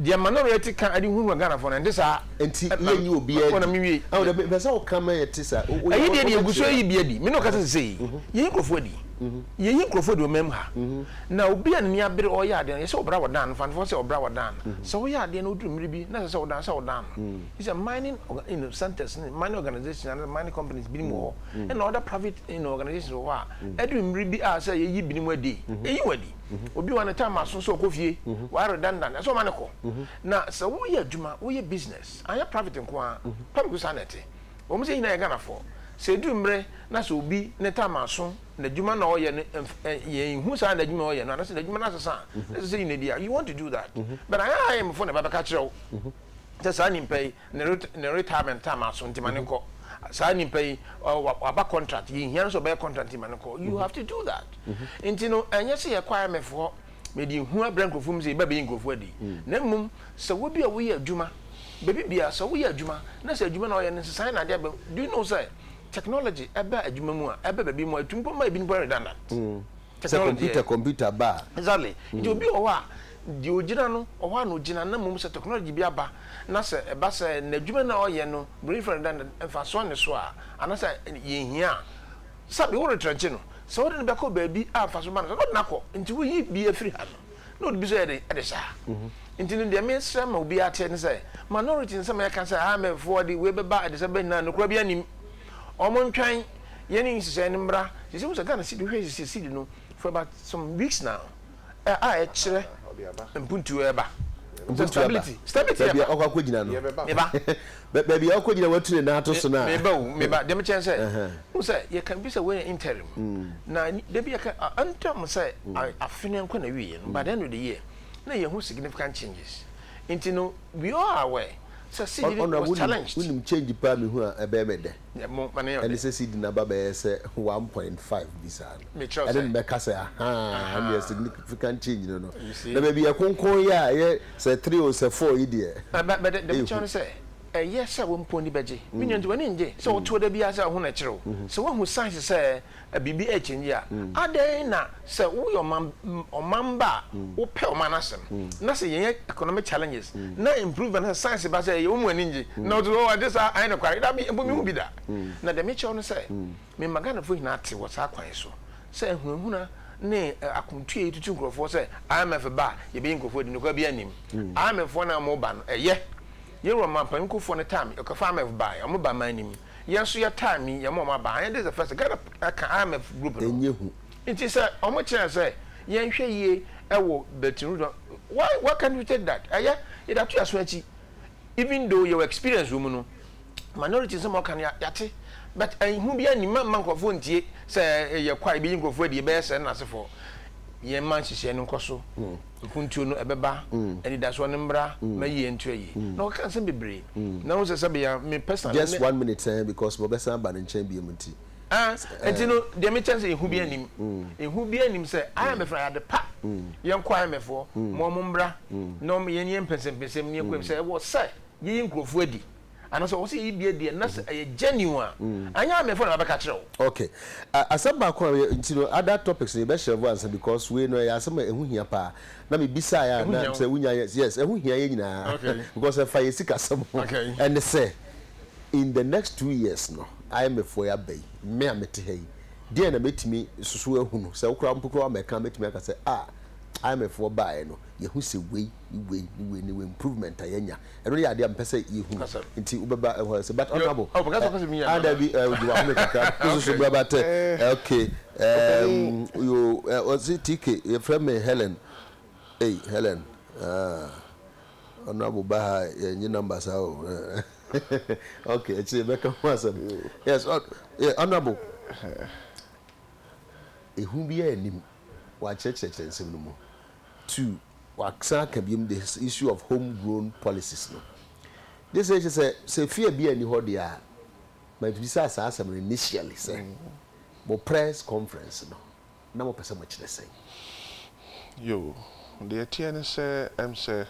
Deɛ ma no werɛ te ka ɛde hunhuna Ghanafoɔ no ɛnte saa. Nti yɛ nyi obiara di. Ɛwɔ dɛ mepɛ sɛ wo ka ma yɛ te sa. Ɛyi deɛ deɛ ɛgu so ɛyi bi adi. Me ne wo kasa sesei yɛyi nkurɔfoɔ adi. Yɛyi nkurɔfoɔ adi wɔ man mu ha. Na obi a n'ani abere ɔreyɛ adeɛ no yɛsɛ wo bra wɔ dan no fa no fa sɛ wo bra wɔ dan no. Sɛ wo yɛ adeɛ na oduru mmere bi na ɛsɛ sɛ wo dan sɛ wo dan no. Yi sɛ mining you know centers ne mining organisations anaa sɛ mining companies binom wɔ hɔ ɛna other private you know organisations wɔ hɔ a ɛduru mmere bi a sɛ yɛyi binom adi a yɛyi wɔn adi. mhm. obi wa ne time aso so ɔkɔ fie mhm. wa redundant ɛsɛ ɔma ne kɔ mhm. na sɛ woyɛ adwuma woyɛ business anyɛ private nko a pam ko saa na ɛte wɔn sɛ nyinaa yɛ ghanafoɔ sɛ edu mmerɛ na sɛ obi ne time aso na adwuma na ɔyɛ no yɛn hu saa na adwuma ɔyɛ no anasɛ na adwuma no asesa ɛsɛ sɛ nyina bi a you want to do that but ayɛ ayɛ mfo na ɛbɛbɛka kyerɛ wo sɛ saa nipa yi Ne ret ne retirement time aso nti ma no nkɔ. Saa nipa yi ɔ wa waba contract yɛnhia no sɛ ɔbɛyɛ contract nti ma no nkɔ. You have to do that. Nti no ɛnyɛ sɛ yɛkɔ IMF hɔ mede hu abrɛ nkurɔfoɔ mu sɛ yɛba bɛyi nkurɔfoɔ adi na mmom sɛ wo bi a woyɛ adwuma baabi biara sɛ woyɛ adwuma na sɛ adwuma na ɔyɛ no nsesaeɛ na adeɛ aba mu. Do you know sɛ technology ɛba adwuma mu a ɛba baabi mu a ɛtumi mpo ma ebinom mpo ayɛ redundant. Sɛ computer computer ba a. Exactly. Nti obi wɔ hɔ a, deɛ ɔgyina no, ɔhɔ ara na ɔgyina. Na mmom sɛ technology bi aba, na sɛ ɛba sɛ n'adwuma no a ɔyɛ no, Buroni frɛ no dɛ, mfasoɔ nni so a, anaasɛ yɛnhia a, sɛbe woretrɛnkye no. Sɛ wode no bɛkɔ baabi a mfasoɔ ba no so a, na ɔde no akɔ. Nti woyi bi afiri ha no, na ɔde bi so yɛ dɛn? Ɛde saa. Nti no deɛ mesrɛ ma obiara te ne sɛ, minority nsɛm a yɛka sɛ, ah, mɛfoɔ de wei bɛba, ɛde sɛ bɛba nyinaa, nokorɛ biara nnim. Wɔntwɛn. yɛn ne nhyehyɛe no mmra. Sɛ sɛ wohu sɛ Ghana cedi, wohwɛ nhyehyɛe cedi no for about some weeks now a a ɛkyerɛ mpuntuo ɛreba. Nti stability, stability ɛba. Baabi a ɔkɔ akɔgyina no. Meba. Baabi a ɔkɔgyina watu ne nan ato so no a. Meba o, meba. Deɛ mekyerɛ ne sɛ, wohu sɛ yɛka bi sɛ wei yɛ interim. Na da bi yɛka interim sɛ afe no nkɔ n'awieɛ no, by the end of the year, na yɛhu significant changes. Nti no, we all are aware sɛ cedi no was challenged. Honourable, wonim change paa mehu a ɛbɛyɛ me dɛ. Ɛne sɛ Sydney aba bɛyɛ sɛ one point five bi saa no, ɛne no bɛka sɛ ahaa, ɛnneɛ significant change no no. Na baabi yɛ kronkron yi a ɛyɛ sɛ three o, sɛ four yi deɛ, ehu. Ɛyɛ sɛ wo mpo w'ani bɛgye. Me nua, nti w'ani nnye sɛ wotoɔ da biara sɛ woahu no akyiri o, sɛ woahu signs sɛ. biribi rekyɛngye a, adɛn na sɛ woyɛ ɔman ɔman ba a wopɛ ɔman no asɛm, na sɛ yɛn economic challenges na improvement na science ba sɛ ɛyɛ wo mu ani ngye, na wote sɛ oh agye saa ae nokware, dabi, mpo menhu bi da. Na deɛ mekyerɛ wo ne sɛ, mema Ghanafoɔ nyinaa te wɔ saa kwan yi so sɛ ahunahuna ne akomtuo yi tutu nkurɔfoɔ sɛ IMF ba a yɛbɛyi nkurɔfoɔ adi no, nokware biara nnim. IMF foɔ no a wɔreba no, ɛyɛ Yɛwura manpanin kufoɔ no taa me ɔkɔfa IMF baeɛ ɔmo ba man no mu yɛn nso yɛ taa me yɛn ma ɔmo aba anyɛ this the first Ghana ɛka IMF group no ɛnyɛ hu. Nti sɛ ɔmo kyerɛ sɛ yɛn hwɛ yie ɛwɔ Bretton Woods no why why can't we take that ɛyɛ yɛde ato yɛn aso akyi even though yɛwɔ experience wɔ mu no minority nsɛm a ɔka no yɛate but ɛho biara nni mamma nkorɔfoɔ ntie sɛ yɛkɔ a yɛbɛyi nkorɔfoɔ adi yɛbɛyɛ sɛ nnasefoɔ yɛn ma nhyehyɛɛ no nkɔ so Nkontuo no ɛbɛba anidasoɔ no mmra ma yie nto ayie na ɔka nsɛm bebree na wohu sɛ sɛbea me personally ne. Just one minute ɛɛ because mabɛsan aba ne nkyɛn biom nti. Ɛɛ nti no deɛ mekyɛ sɛ ehu biara nnim ehu biara nnim sɛ IMF no ayɛ ade pa yɛnkɔ IMF foɔ ma wɔn mmra na wɔn yɛn yɛn mpɛnsɛmpɛnsɛm ne yɛnkɔ mu sɛ ɛwɔ sɛ yɛyi nkorɔfoɔ adi anaasɛ ɔwɔ sɛ yɛyi bi adiɛ na sɛ ɛyɛ genuine a anyɛ a mefo na mabɛka kyerɛ wo. Ok asɛm baako a yɛ nti no other topics no yɛbɛ shelve ansa because wei no ɛyɛ asɛm a ɛho hia paa na me bisaeɛ a na sɛ wonya yɛ yes ɛho hia yɛn nyinaa because ɛfa yɛn sikasɛm ho ɛne sɛ in the next two years no IMF foɔ yi aba yi me a mete ha yi deɛn na mɛtumi susu ahunu sɛ wo koraa mpo koraa woamɛka a mɛtumi aka sɛ ah IMF foɔ baeɛ no yɛhu sɛ wei ne wei ne wei ne wei improvement a yɛanya ɛno yɛ adeɛ a mepɛ sɛ yɛhunu nti wobɛba ɛhɔ sɛ but honorable ada bi wode wahome kakra wososo bra ba tɛ ok ɔse tk yɛfrɛ me helen ei helen honorable ba ha yɛnye number saa o ok ɛkyɛ yɛbɛka ho asɛm yes honorable ɛhu bi a anim wakyerɛkyerɛkyerɛ nsɛm no mu two wɔasan aka biom the issue of home grown policies no. Gye sɛ kyerɛ sɛ sɛ fear biara nni hɔ deɛ a, mabisa saa asɛm no initially sɛ mo press conference no na mopɛ sɛ mokyerɛ sɛn? Yoo, deɛ ɛteɛ ne sɛ ɛm sɛ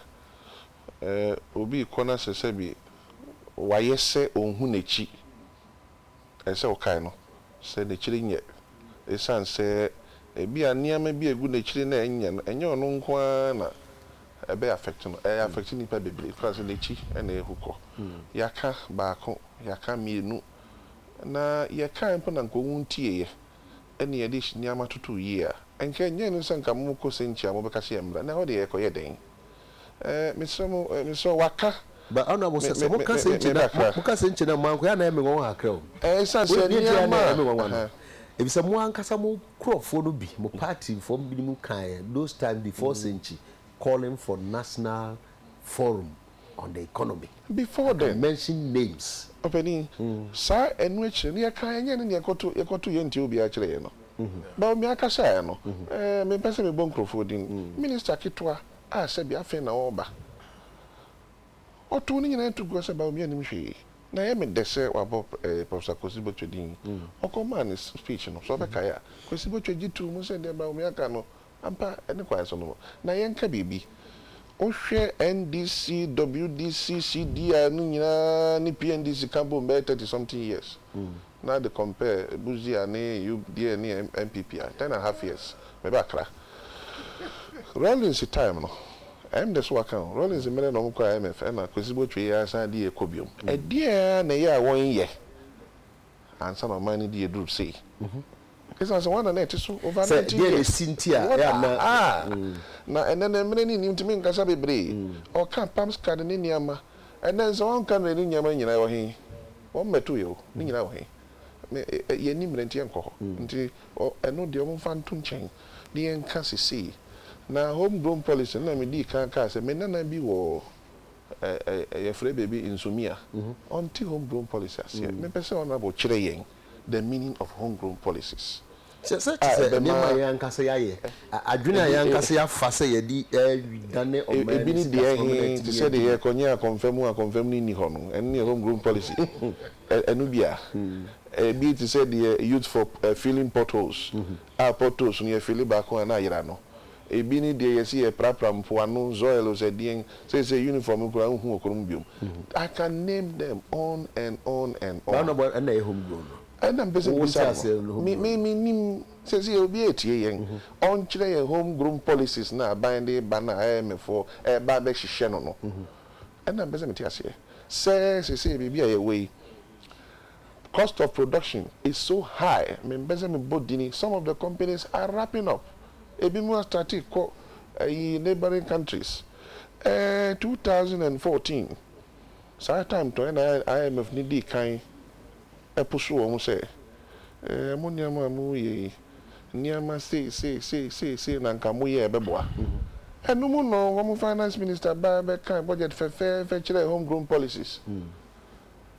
obi rekɔ na sɛ sɛbi wayɛ sɛ ɔnhu n'akyi. ɛsɛ sɛ wokae no sɛ n'akyiri nyɛ, esiane sɛ ebia nneɛma bi a egu n'akyiri no a ɛnyɛ no, ɛnyɛ ɔno nko ara na ɛbɛ affect no, ɛ affect nnipa bebree koraa sɛ n'akyi na ehu kɔ. Yɛaka baako, yɛaka mmienu, na yɛkae mpo na nka wɔntieeɛ. ne yɛn de nneɛma toto yie a, nka ɛnyɛ no sɛ nka mo kɔ sɛnkyia a mobɛka sɛ yɛn mmra, na ɛhɔ deɛ yɛkɔ yɛ dɛn? Ɛɛ, mesrɛ mo, mesrɛ wo, waka Ba Anna mo sɛ, sɛ mo ka sɛnkyia na, mo ka sɛnkyia na mo ankɔ yɛ a na ɛyɛ me nwanwa kakra o. Ɛɛ, ɛsiane sɛ nneɛma a. Deɛ ɛyɛ a na ɛyɛ me nwanwa no, ɛfisɛ mo ankasa mo nkorɔfoɔ no bi, mo party foɔ binom kaeɛ those time before sɛnkyi calling for national forum. on the economy. Before then. I can mention names. Ɔpanin, saa ɛno akyire no yɛ kaa ɛnyɛ ne nea ɛkɔto yɛkɔto yɛ ntiɛ obiara kyerɛ yɛ no. But me ankasa ɛ no, ɛɛ me mpɛ sɛ me bɔ nkurɔfoɔ din. Minister ketewa a sɛbi afei na ɔɔba. Ɔtoo ne nyinaa nto guo sɛ Bawumia nim hwee. Na ɛyɛ me dɛ sɛ wabɔ ɛɛ Professor Kwesi Botwe din. Ɔkɔ maa ne speech no, sɛ ɔbɛkae a, Kwesi Botwe gye too mu sɛ deɛ Bawumia ka no Ampa, ne kwan so no, na yɛnka biribi. Wohwɛ NDC, WDC, CDI no nyinaa ne PNDC ka bom bɛyɛ thirty something years na de compare Busia ne UDA ne NPP a, ten and half years. Meba Accra Rawlings time no, ɛm de so waka no, Rawlings mmerɛ na wɔkɔɔ IMF ɛna Kwesi Botwe yi ara san de yɛn kɔ biom. Ɛdeɛn ara na ɛyɛ a wɔnyɛ ansa na ɔman no di aduru sei. Esiane sɛ wɔn nna na ɛte so over Sɛ nineteen deɛ na years. esi nti a, What ɛyɛ a na a ah! Na ɛnnɛ no mmerɛ no nni ntumi nkasa bebree. Ɔka Palms card ne nneɛma. Ɛnnɛ nso wɔnka mmerɛ no nneɛma no nyinaa ɛwɔ he? Wɔmmɛtoeɛ o, ne nyinaa wɔ he? Me ɛ yɛnni mmerɛ nti yɛnkɔ hɔ. Nti ɔ ɛno deɛ wɔmfa nto nkyɛn ne yɛnka sesei. Na home grown policy no na medii kan kaa sɛ me nana bi wɔ yɛfrɛ baabi Nsomia, ɔnte home grown policy aseɛ. Mepɛ sɛ Honourable kyerɛ yɛn the meaning of home grown policies a ɛbɛma. Sɛ te sɛ nneɛma a yɛn ankasa yɛayɛ, adwene a yɛn ankasa yɛafa sɛ yɛde redane ɔman no sikasoɔ ma no atumi adi mu. Ebi ne deɛ he, te sɛ deɛ yɛrekɔnyɛ akɔmfam mu a akɔmfam no nni hɔ no, ɛno ne yɛ home grown policy. Ɛno bi a. Ebi te sɛ deɛ youth for filling potholes a potholes no yɛfili baako a na ayera no. Ebi ne deɛ yɛse yɛprapra mpoano, zoil o sɛ deɛn, seisei uniform no koraa wonhu ɔkoro mu biom. I can name them on and on and Ba on. no bɔ ɛna ɛyɛ home grown no. Ɛna mepɛ sɛ Wo nte mebisa aseɛ no no, home me, grown me, no. mennim, seisei obi a ɛtie yɛn, ɔnkyerɛ yɛn home grown policies no a aban de reba no a IMF foɔ ɛreba abɛhyehyɛ no no. Ɛna mepɛ sɛ mete aseɛ sɛ seisei baabi a yɛwɔ yi, Cost of production is so high, mempɛ sɛ mebɔ dini, some of the companies are wrapping up, ebinom astate kɔ ayi neighbouring countries, eh, two thousand and fourteen saa time tɔ ɛna IMF no dii kan push wɔn sɛ eh, mo nneɛma a moyɛ yi, nneɛma sei sei sei sei sei na nka moyɛ a ɛbɛboa. Ɛno mu no wɔn finance minister baa bɛkaa budget fɛfɛɛfɛ kyerɛɛ home grown policies.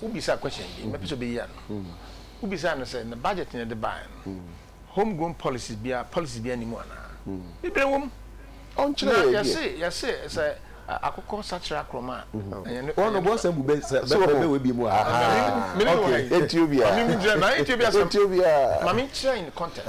Wo bisaa question bi mɛpɛ sɛ ɔbɛyi ano. Wo bisaa no sɛ ne budget no yɛde baeɛ no home grown policies biara policies biara nni mu anaa? Bebree wɔ mu. Ɔnkyerɛ yɛn deɛ. Na yɛse yɛse sɛ akokɔ sakyera akorɔm a. Wɔn no bɔ sɛ bu bɛ sɛ bɛ bɛ wɔ bi mu a. Aha okay. Ɛnti obiara. Maame mi gyina maame nti obiara sɛ. Ɛnti obiara. Maame nkyerɛ in context.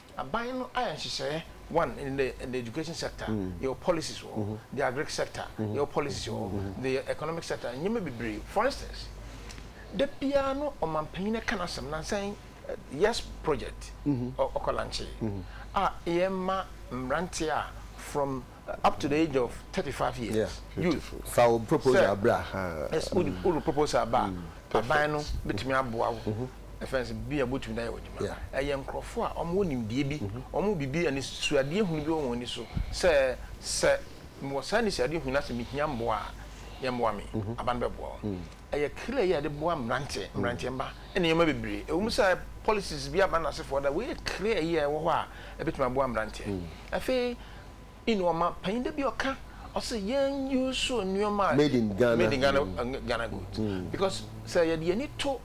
Aban no ayɛ nhyehyɛɛ one in the in the education sector yɛwɔ policies wɔ hɔ the agric sector yɛwɔ policies wɔ hɔ the economic sector nneɛma bebree for instance da biara no ɔmanpanyin ka n'asɛm nansa yi yes project ɔkɔ lankyee a yɛma mmranteɛ a from. up to the age of thirty five years youth sɛ yes wode proposal ba a aban no bɛtumi aboa wo ɛfɛn sɛ bi a botumi dayɛ ɔdwuma ɛyɛ nkorɔfoɔ a ɔmo wɔ nimdeɛ bi ɔmo bibi ani suadeɛ hunu bi wɔ wɔn ani so sɛ sɛ mewɔ saa nisuadeɛ hunu asɛ mehia mboa a yɛ mboa me aban no bɛboa wo ɛyɛ kra yi a yɛde boa mmeranteɛ mmeranteɛ mma ɛne nneɛma bebree ɛwɔ mu sɛ policies bi aba no asefoɔ da wei yɛ kra yi a ɛwɔ hɔ a ɛbɛtumi aboa mmeranteɛ afei nnoɔma panyin da bi ɔka ɔsɛ yɛn use nnoɔma a made in Ghana made in Ghana mm. Ghana goods mm. because sɛ yɛde yɛn ani to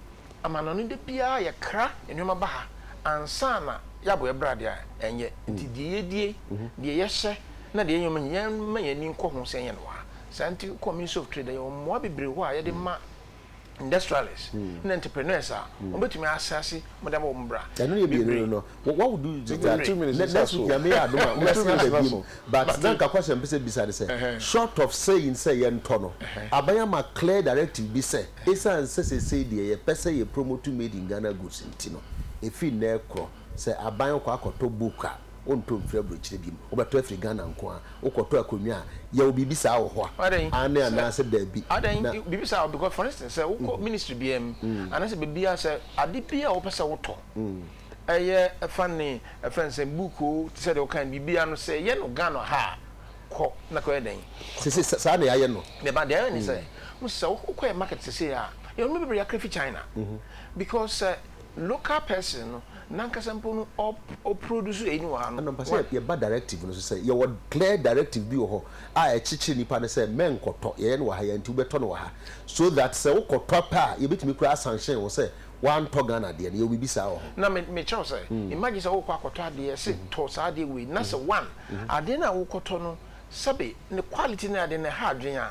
amanɔne da biara yɛkra nnoɔma ba ha ansa na yɛabɔ yɛ brade a ɛnyɛ nti mm. deɛ yɛdie mm-hmm. deɛ yɛhyɛ na deɛ yɛn yɛn ma yɛn ani nkɔ ho sɛ yɛn wɔ ha saa nti kɔ ministry of trade yɛ wɔn mmoa bebree hɔ a yɛde ma industrialists ne entrepreneurs a wɔbɛtumi ahyɛ ase wɔde abɔ wɔn bra. Ɛno yɛ mmienu no no what would you do that two minutes ne next week nyame yɛ adom a wobɛsen aba biom but na nka question mpɛ sɛ bisa ne sɛ short of saying sɛ yɛntɔ no aban ama clear directive bi sɛ ɛsiane sɛ sesei deɛ yɛpɛ sɛ yɛ promote made in Ghana goods nti no ɛfiri nnɛ korɔ Sɛ aban kɔ akɔtɔ book a, wontɔ mfiri aburokyire biom. Wobɛtɔ afiri Ghana nko ara. Wokɔtɔ akonnwa a, yɛwɔ biribi saa wɔ hɔ a, Adɛn? aane Sɛ, anaa sɛ daabi. Adɛn? Na. Biribi saa wɔ because for instance sɛ wokɔ ministry biara mu anaa sɛ baabi a sɛ ade bi a wopɛ sɛ wotɔ, ɛyɛ ɛfa ne ɛfrɛ no sɛn book o, te sɛ deɛ wokae no biribi ara no sɛ yɛ no Ghana ha a, kɔ na kɔyɛ dɛn? Kɔtɔ. Sese saa na yɛayɛ no. Deɛ ba, deɛ yɛayɛ ne sɛ, wohu sɛ sɛ wokɔ yɛn market sesei a, yɛn nnoɔma bebree yɛakra firi China because sɛ Local person no nankasa mpo no ɔproduce eyi no wɔ ha no. Ɛna mepɛ sɛ yɛba directive no so sɛ yɛwɔ clear directive bi wɔ hɔ a ɛkyekyere nnipa no sɛ mɛnkɔtɔ, yɛyɛ no wɔ ha yi ara nti wobɛtɔ no wɔ ha so that sɛ wokɔtɔ pɛ a yɛbɛtumi koraa asanhyɛn wo sɛ woantɔ Ghana adeɛ no, yɛwɔ biribi saa wɔ hɔ. Na mekyerɛ wo sɛ imagine sɛ worekɔ akɔtɔ adeɛ yɛse tɔ saa adeɛ wei na sɛ one adeɛ no a worekɔtɔ no sɛbe ne quality ne adeɛ no ɛha adwene a,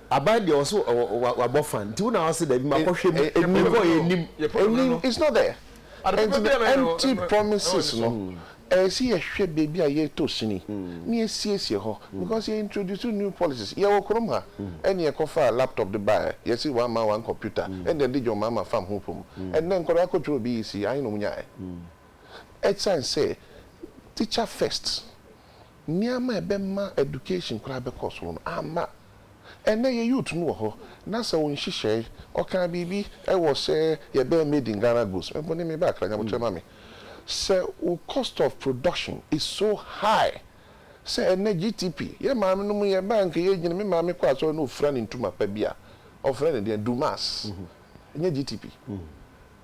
Aban deɛ ɔse wabɔ fan nti wo na wase dabi makɔhwɛ mu because yɛnim ɛnim it's not there ɛnti no empty promises no ɛsɛ yɛhwɛ baabi a yɛtɔ sini na yɛsiesie hɔ because yɛ introduce new policies yɛwɔ kurom ha ɛne yɛkɔfaa laptop de baɛ yɛse one man one computer ɛnde ɛde John Mahama fam ho pom ɛnnɛ nkwadaa kɔtwerɛ BEC ahe na ɔmo nyaɛ ɛsiane sɛ teacher first Nneɛma a ɛbɛma education koraa bɛkɔ so no amma. Ɛnnɛ yɛn youth no wɔ hɔ na sɛ ɔnhyehyɛe, ɔkaa biribi wɔ sɛ yɛbɛyɛ made in Ghana goods, me mpo ne me ba akra nyabotrɛ ma me. Sɛ wo cost of production is so high sɛ ɛnnɛ GTP, yɛn maame nom yɛn ba a nka yɛgyina, me maame kɔ asɔre na ɔfira ne ntoma pa bi a, ɔfrɛ no deɛn, Dumas, ɛnyɛ GTP.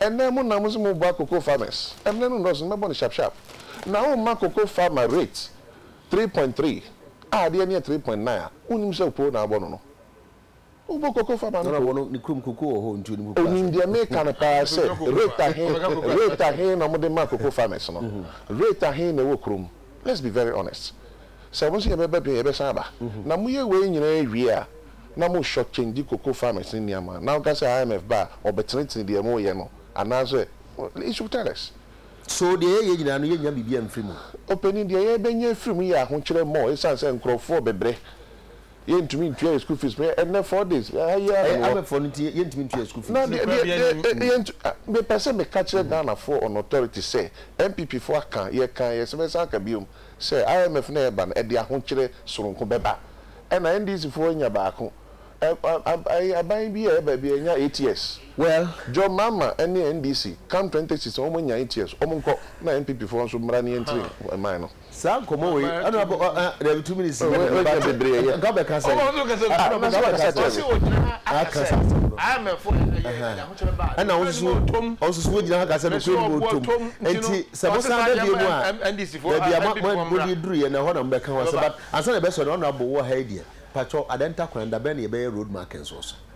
Ɛnnɛ mo nam so moboa cocoa farmers. Ɛmmerɛ no nnɔɔso no mɛbɔ no sharp sharp. Na wo mma cocoa farmer rate three point three a adeɛ no yɛ three point nine a wonim sɛ opoo na abɔ no no. Wobɔ cocoa farmer no poo. Onim deɛ meka no paa sɛ rate ahe rate ahe na wɔde ma cocoa farmers no. Rate ahe na ɛwɔ kurom. Let's be very honest. sɛ mo se yɛ bɛ bɛ dun yɛ bɛ san aba na mo yɛ wei nyinaa wie a na mo short changyi cocoa farmers ne nneɛma na woka sɛ IMF ba a ɔbɛ tene tene deɛ mo yɛ no anaa sɛ you should tell us. So deɛ yɛ yɛ nyinaa no yɛ nya biribi amfiri mu? Opanin deɛ yɛ bɛ nya afiri mu yɛ ahokyerɛ mɔ esane sɛ nkorɔfoɔ bɛ brɛ yɛn ntumi ntua yɛn school fees mɛ ɛnɛ four days yɛ ha yi ara na mewɔ. Ɛyɛ abɛfoɔ no nti yɛn ntumi ntua yɛn school fees. Na deɛ deɛ deɛ yɛn ntu mɛ pɛ sɛ mɛ ka kyerɛ Ghana foɔ on authority sɛ NPP foɔ aka yɛ kan yɛ sɛ mɛ san aka biom sɛ IMF na ɛba no ɛde ahokyerɛ soronko bɛba ɛna NDC foɔ nya baako ɛ ɛ aban bi a ɛba bi ɛnya eight years well John Mahama ɛne NDC come twenty sixteen wɔn nya eight years wɔn nkɔ na NPP foɔ nso mmra ne yɛn tiri man no. Saa nkɔmɔ wei ɛna abo ɔ ɛ dɛbi two minutes yɛ dɛbi ba tɛ nka ɔbɛ kasa yi ɛna ɔbɛ kasa ɔbɛ kasa yi a kasa ɛna ɔn soso ɔn soso wogyina ha kasa nukuri ni mo tom nti sɛ mo san bɛ bie mu a bɛbi a mo mo mo di duru yɛ na ɛhɔ na mo bɛ ka ho asɛ but ansa na ɛbɛ sɔ na ɔna abo wɔ ha yi deɛ patwɔ adɛn ta kwan da bɛn na yɛ bɛ yɛ road markings wɔ so.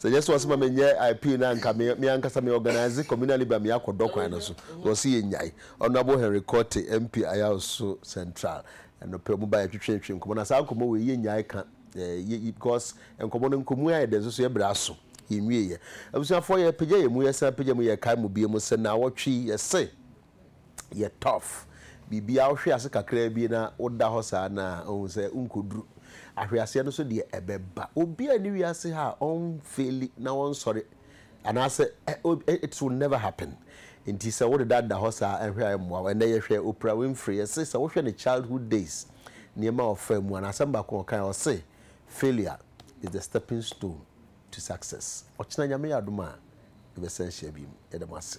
Sɛ ɛnyɛ sɛ wɔse ma menyɛ IP no a anka me ankasa me organise communal libre a me akɔ dɔ kwan no so. Wɔse yɛnyae. Honourable Henry Korte, MP Ayaoso Central, ɛno pɛ wɔn baeɛ twetweetwee nkɔmmɔ no. Na saa nkɔmmɔ wei yɛnyae ka yɛ because nkɔmmɔ no nkɔmu ayɛ dɛ nso so yɛbrɛ aso. Yɛnwieɛ. Abusuafoɔ yɛpagya yɛn mu, yɛsan pagya mu, yɛkae mo biom sɛ naawɔtwe yi yɛse yɛ tough biribiaa wohwe ase kakra bi na woda hɔ saa no a wohu sɛ wonkɔduru ahweaseɛ no so deɛ ɛbɛba obiaa nni wiase ha a ɔnfeeli na wɔnsɔre anaasɛ it will never happen nti sɛ wodeda da hɔ saa ɛhwɛ a ɛmmoa wo ɛnɛ yɛhwɛ Oprah Winfrey yɛse sɛ wohwɛ ne childhood days nneɛma a ɔfaa mu a n'asɛm baako a ɔkae ɔse failure is the stepping stone to success ɔkyena Nyame yɛ adom a yɛbɛsan hyia bio yɛda mo ase.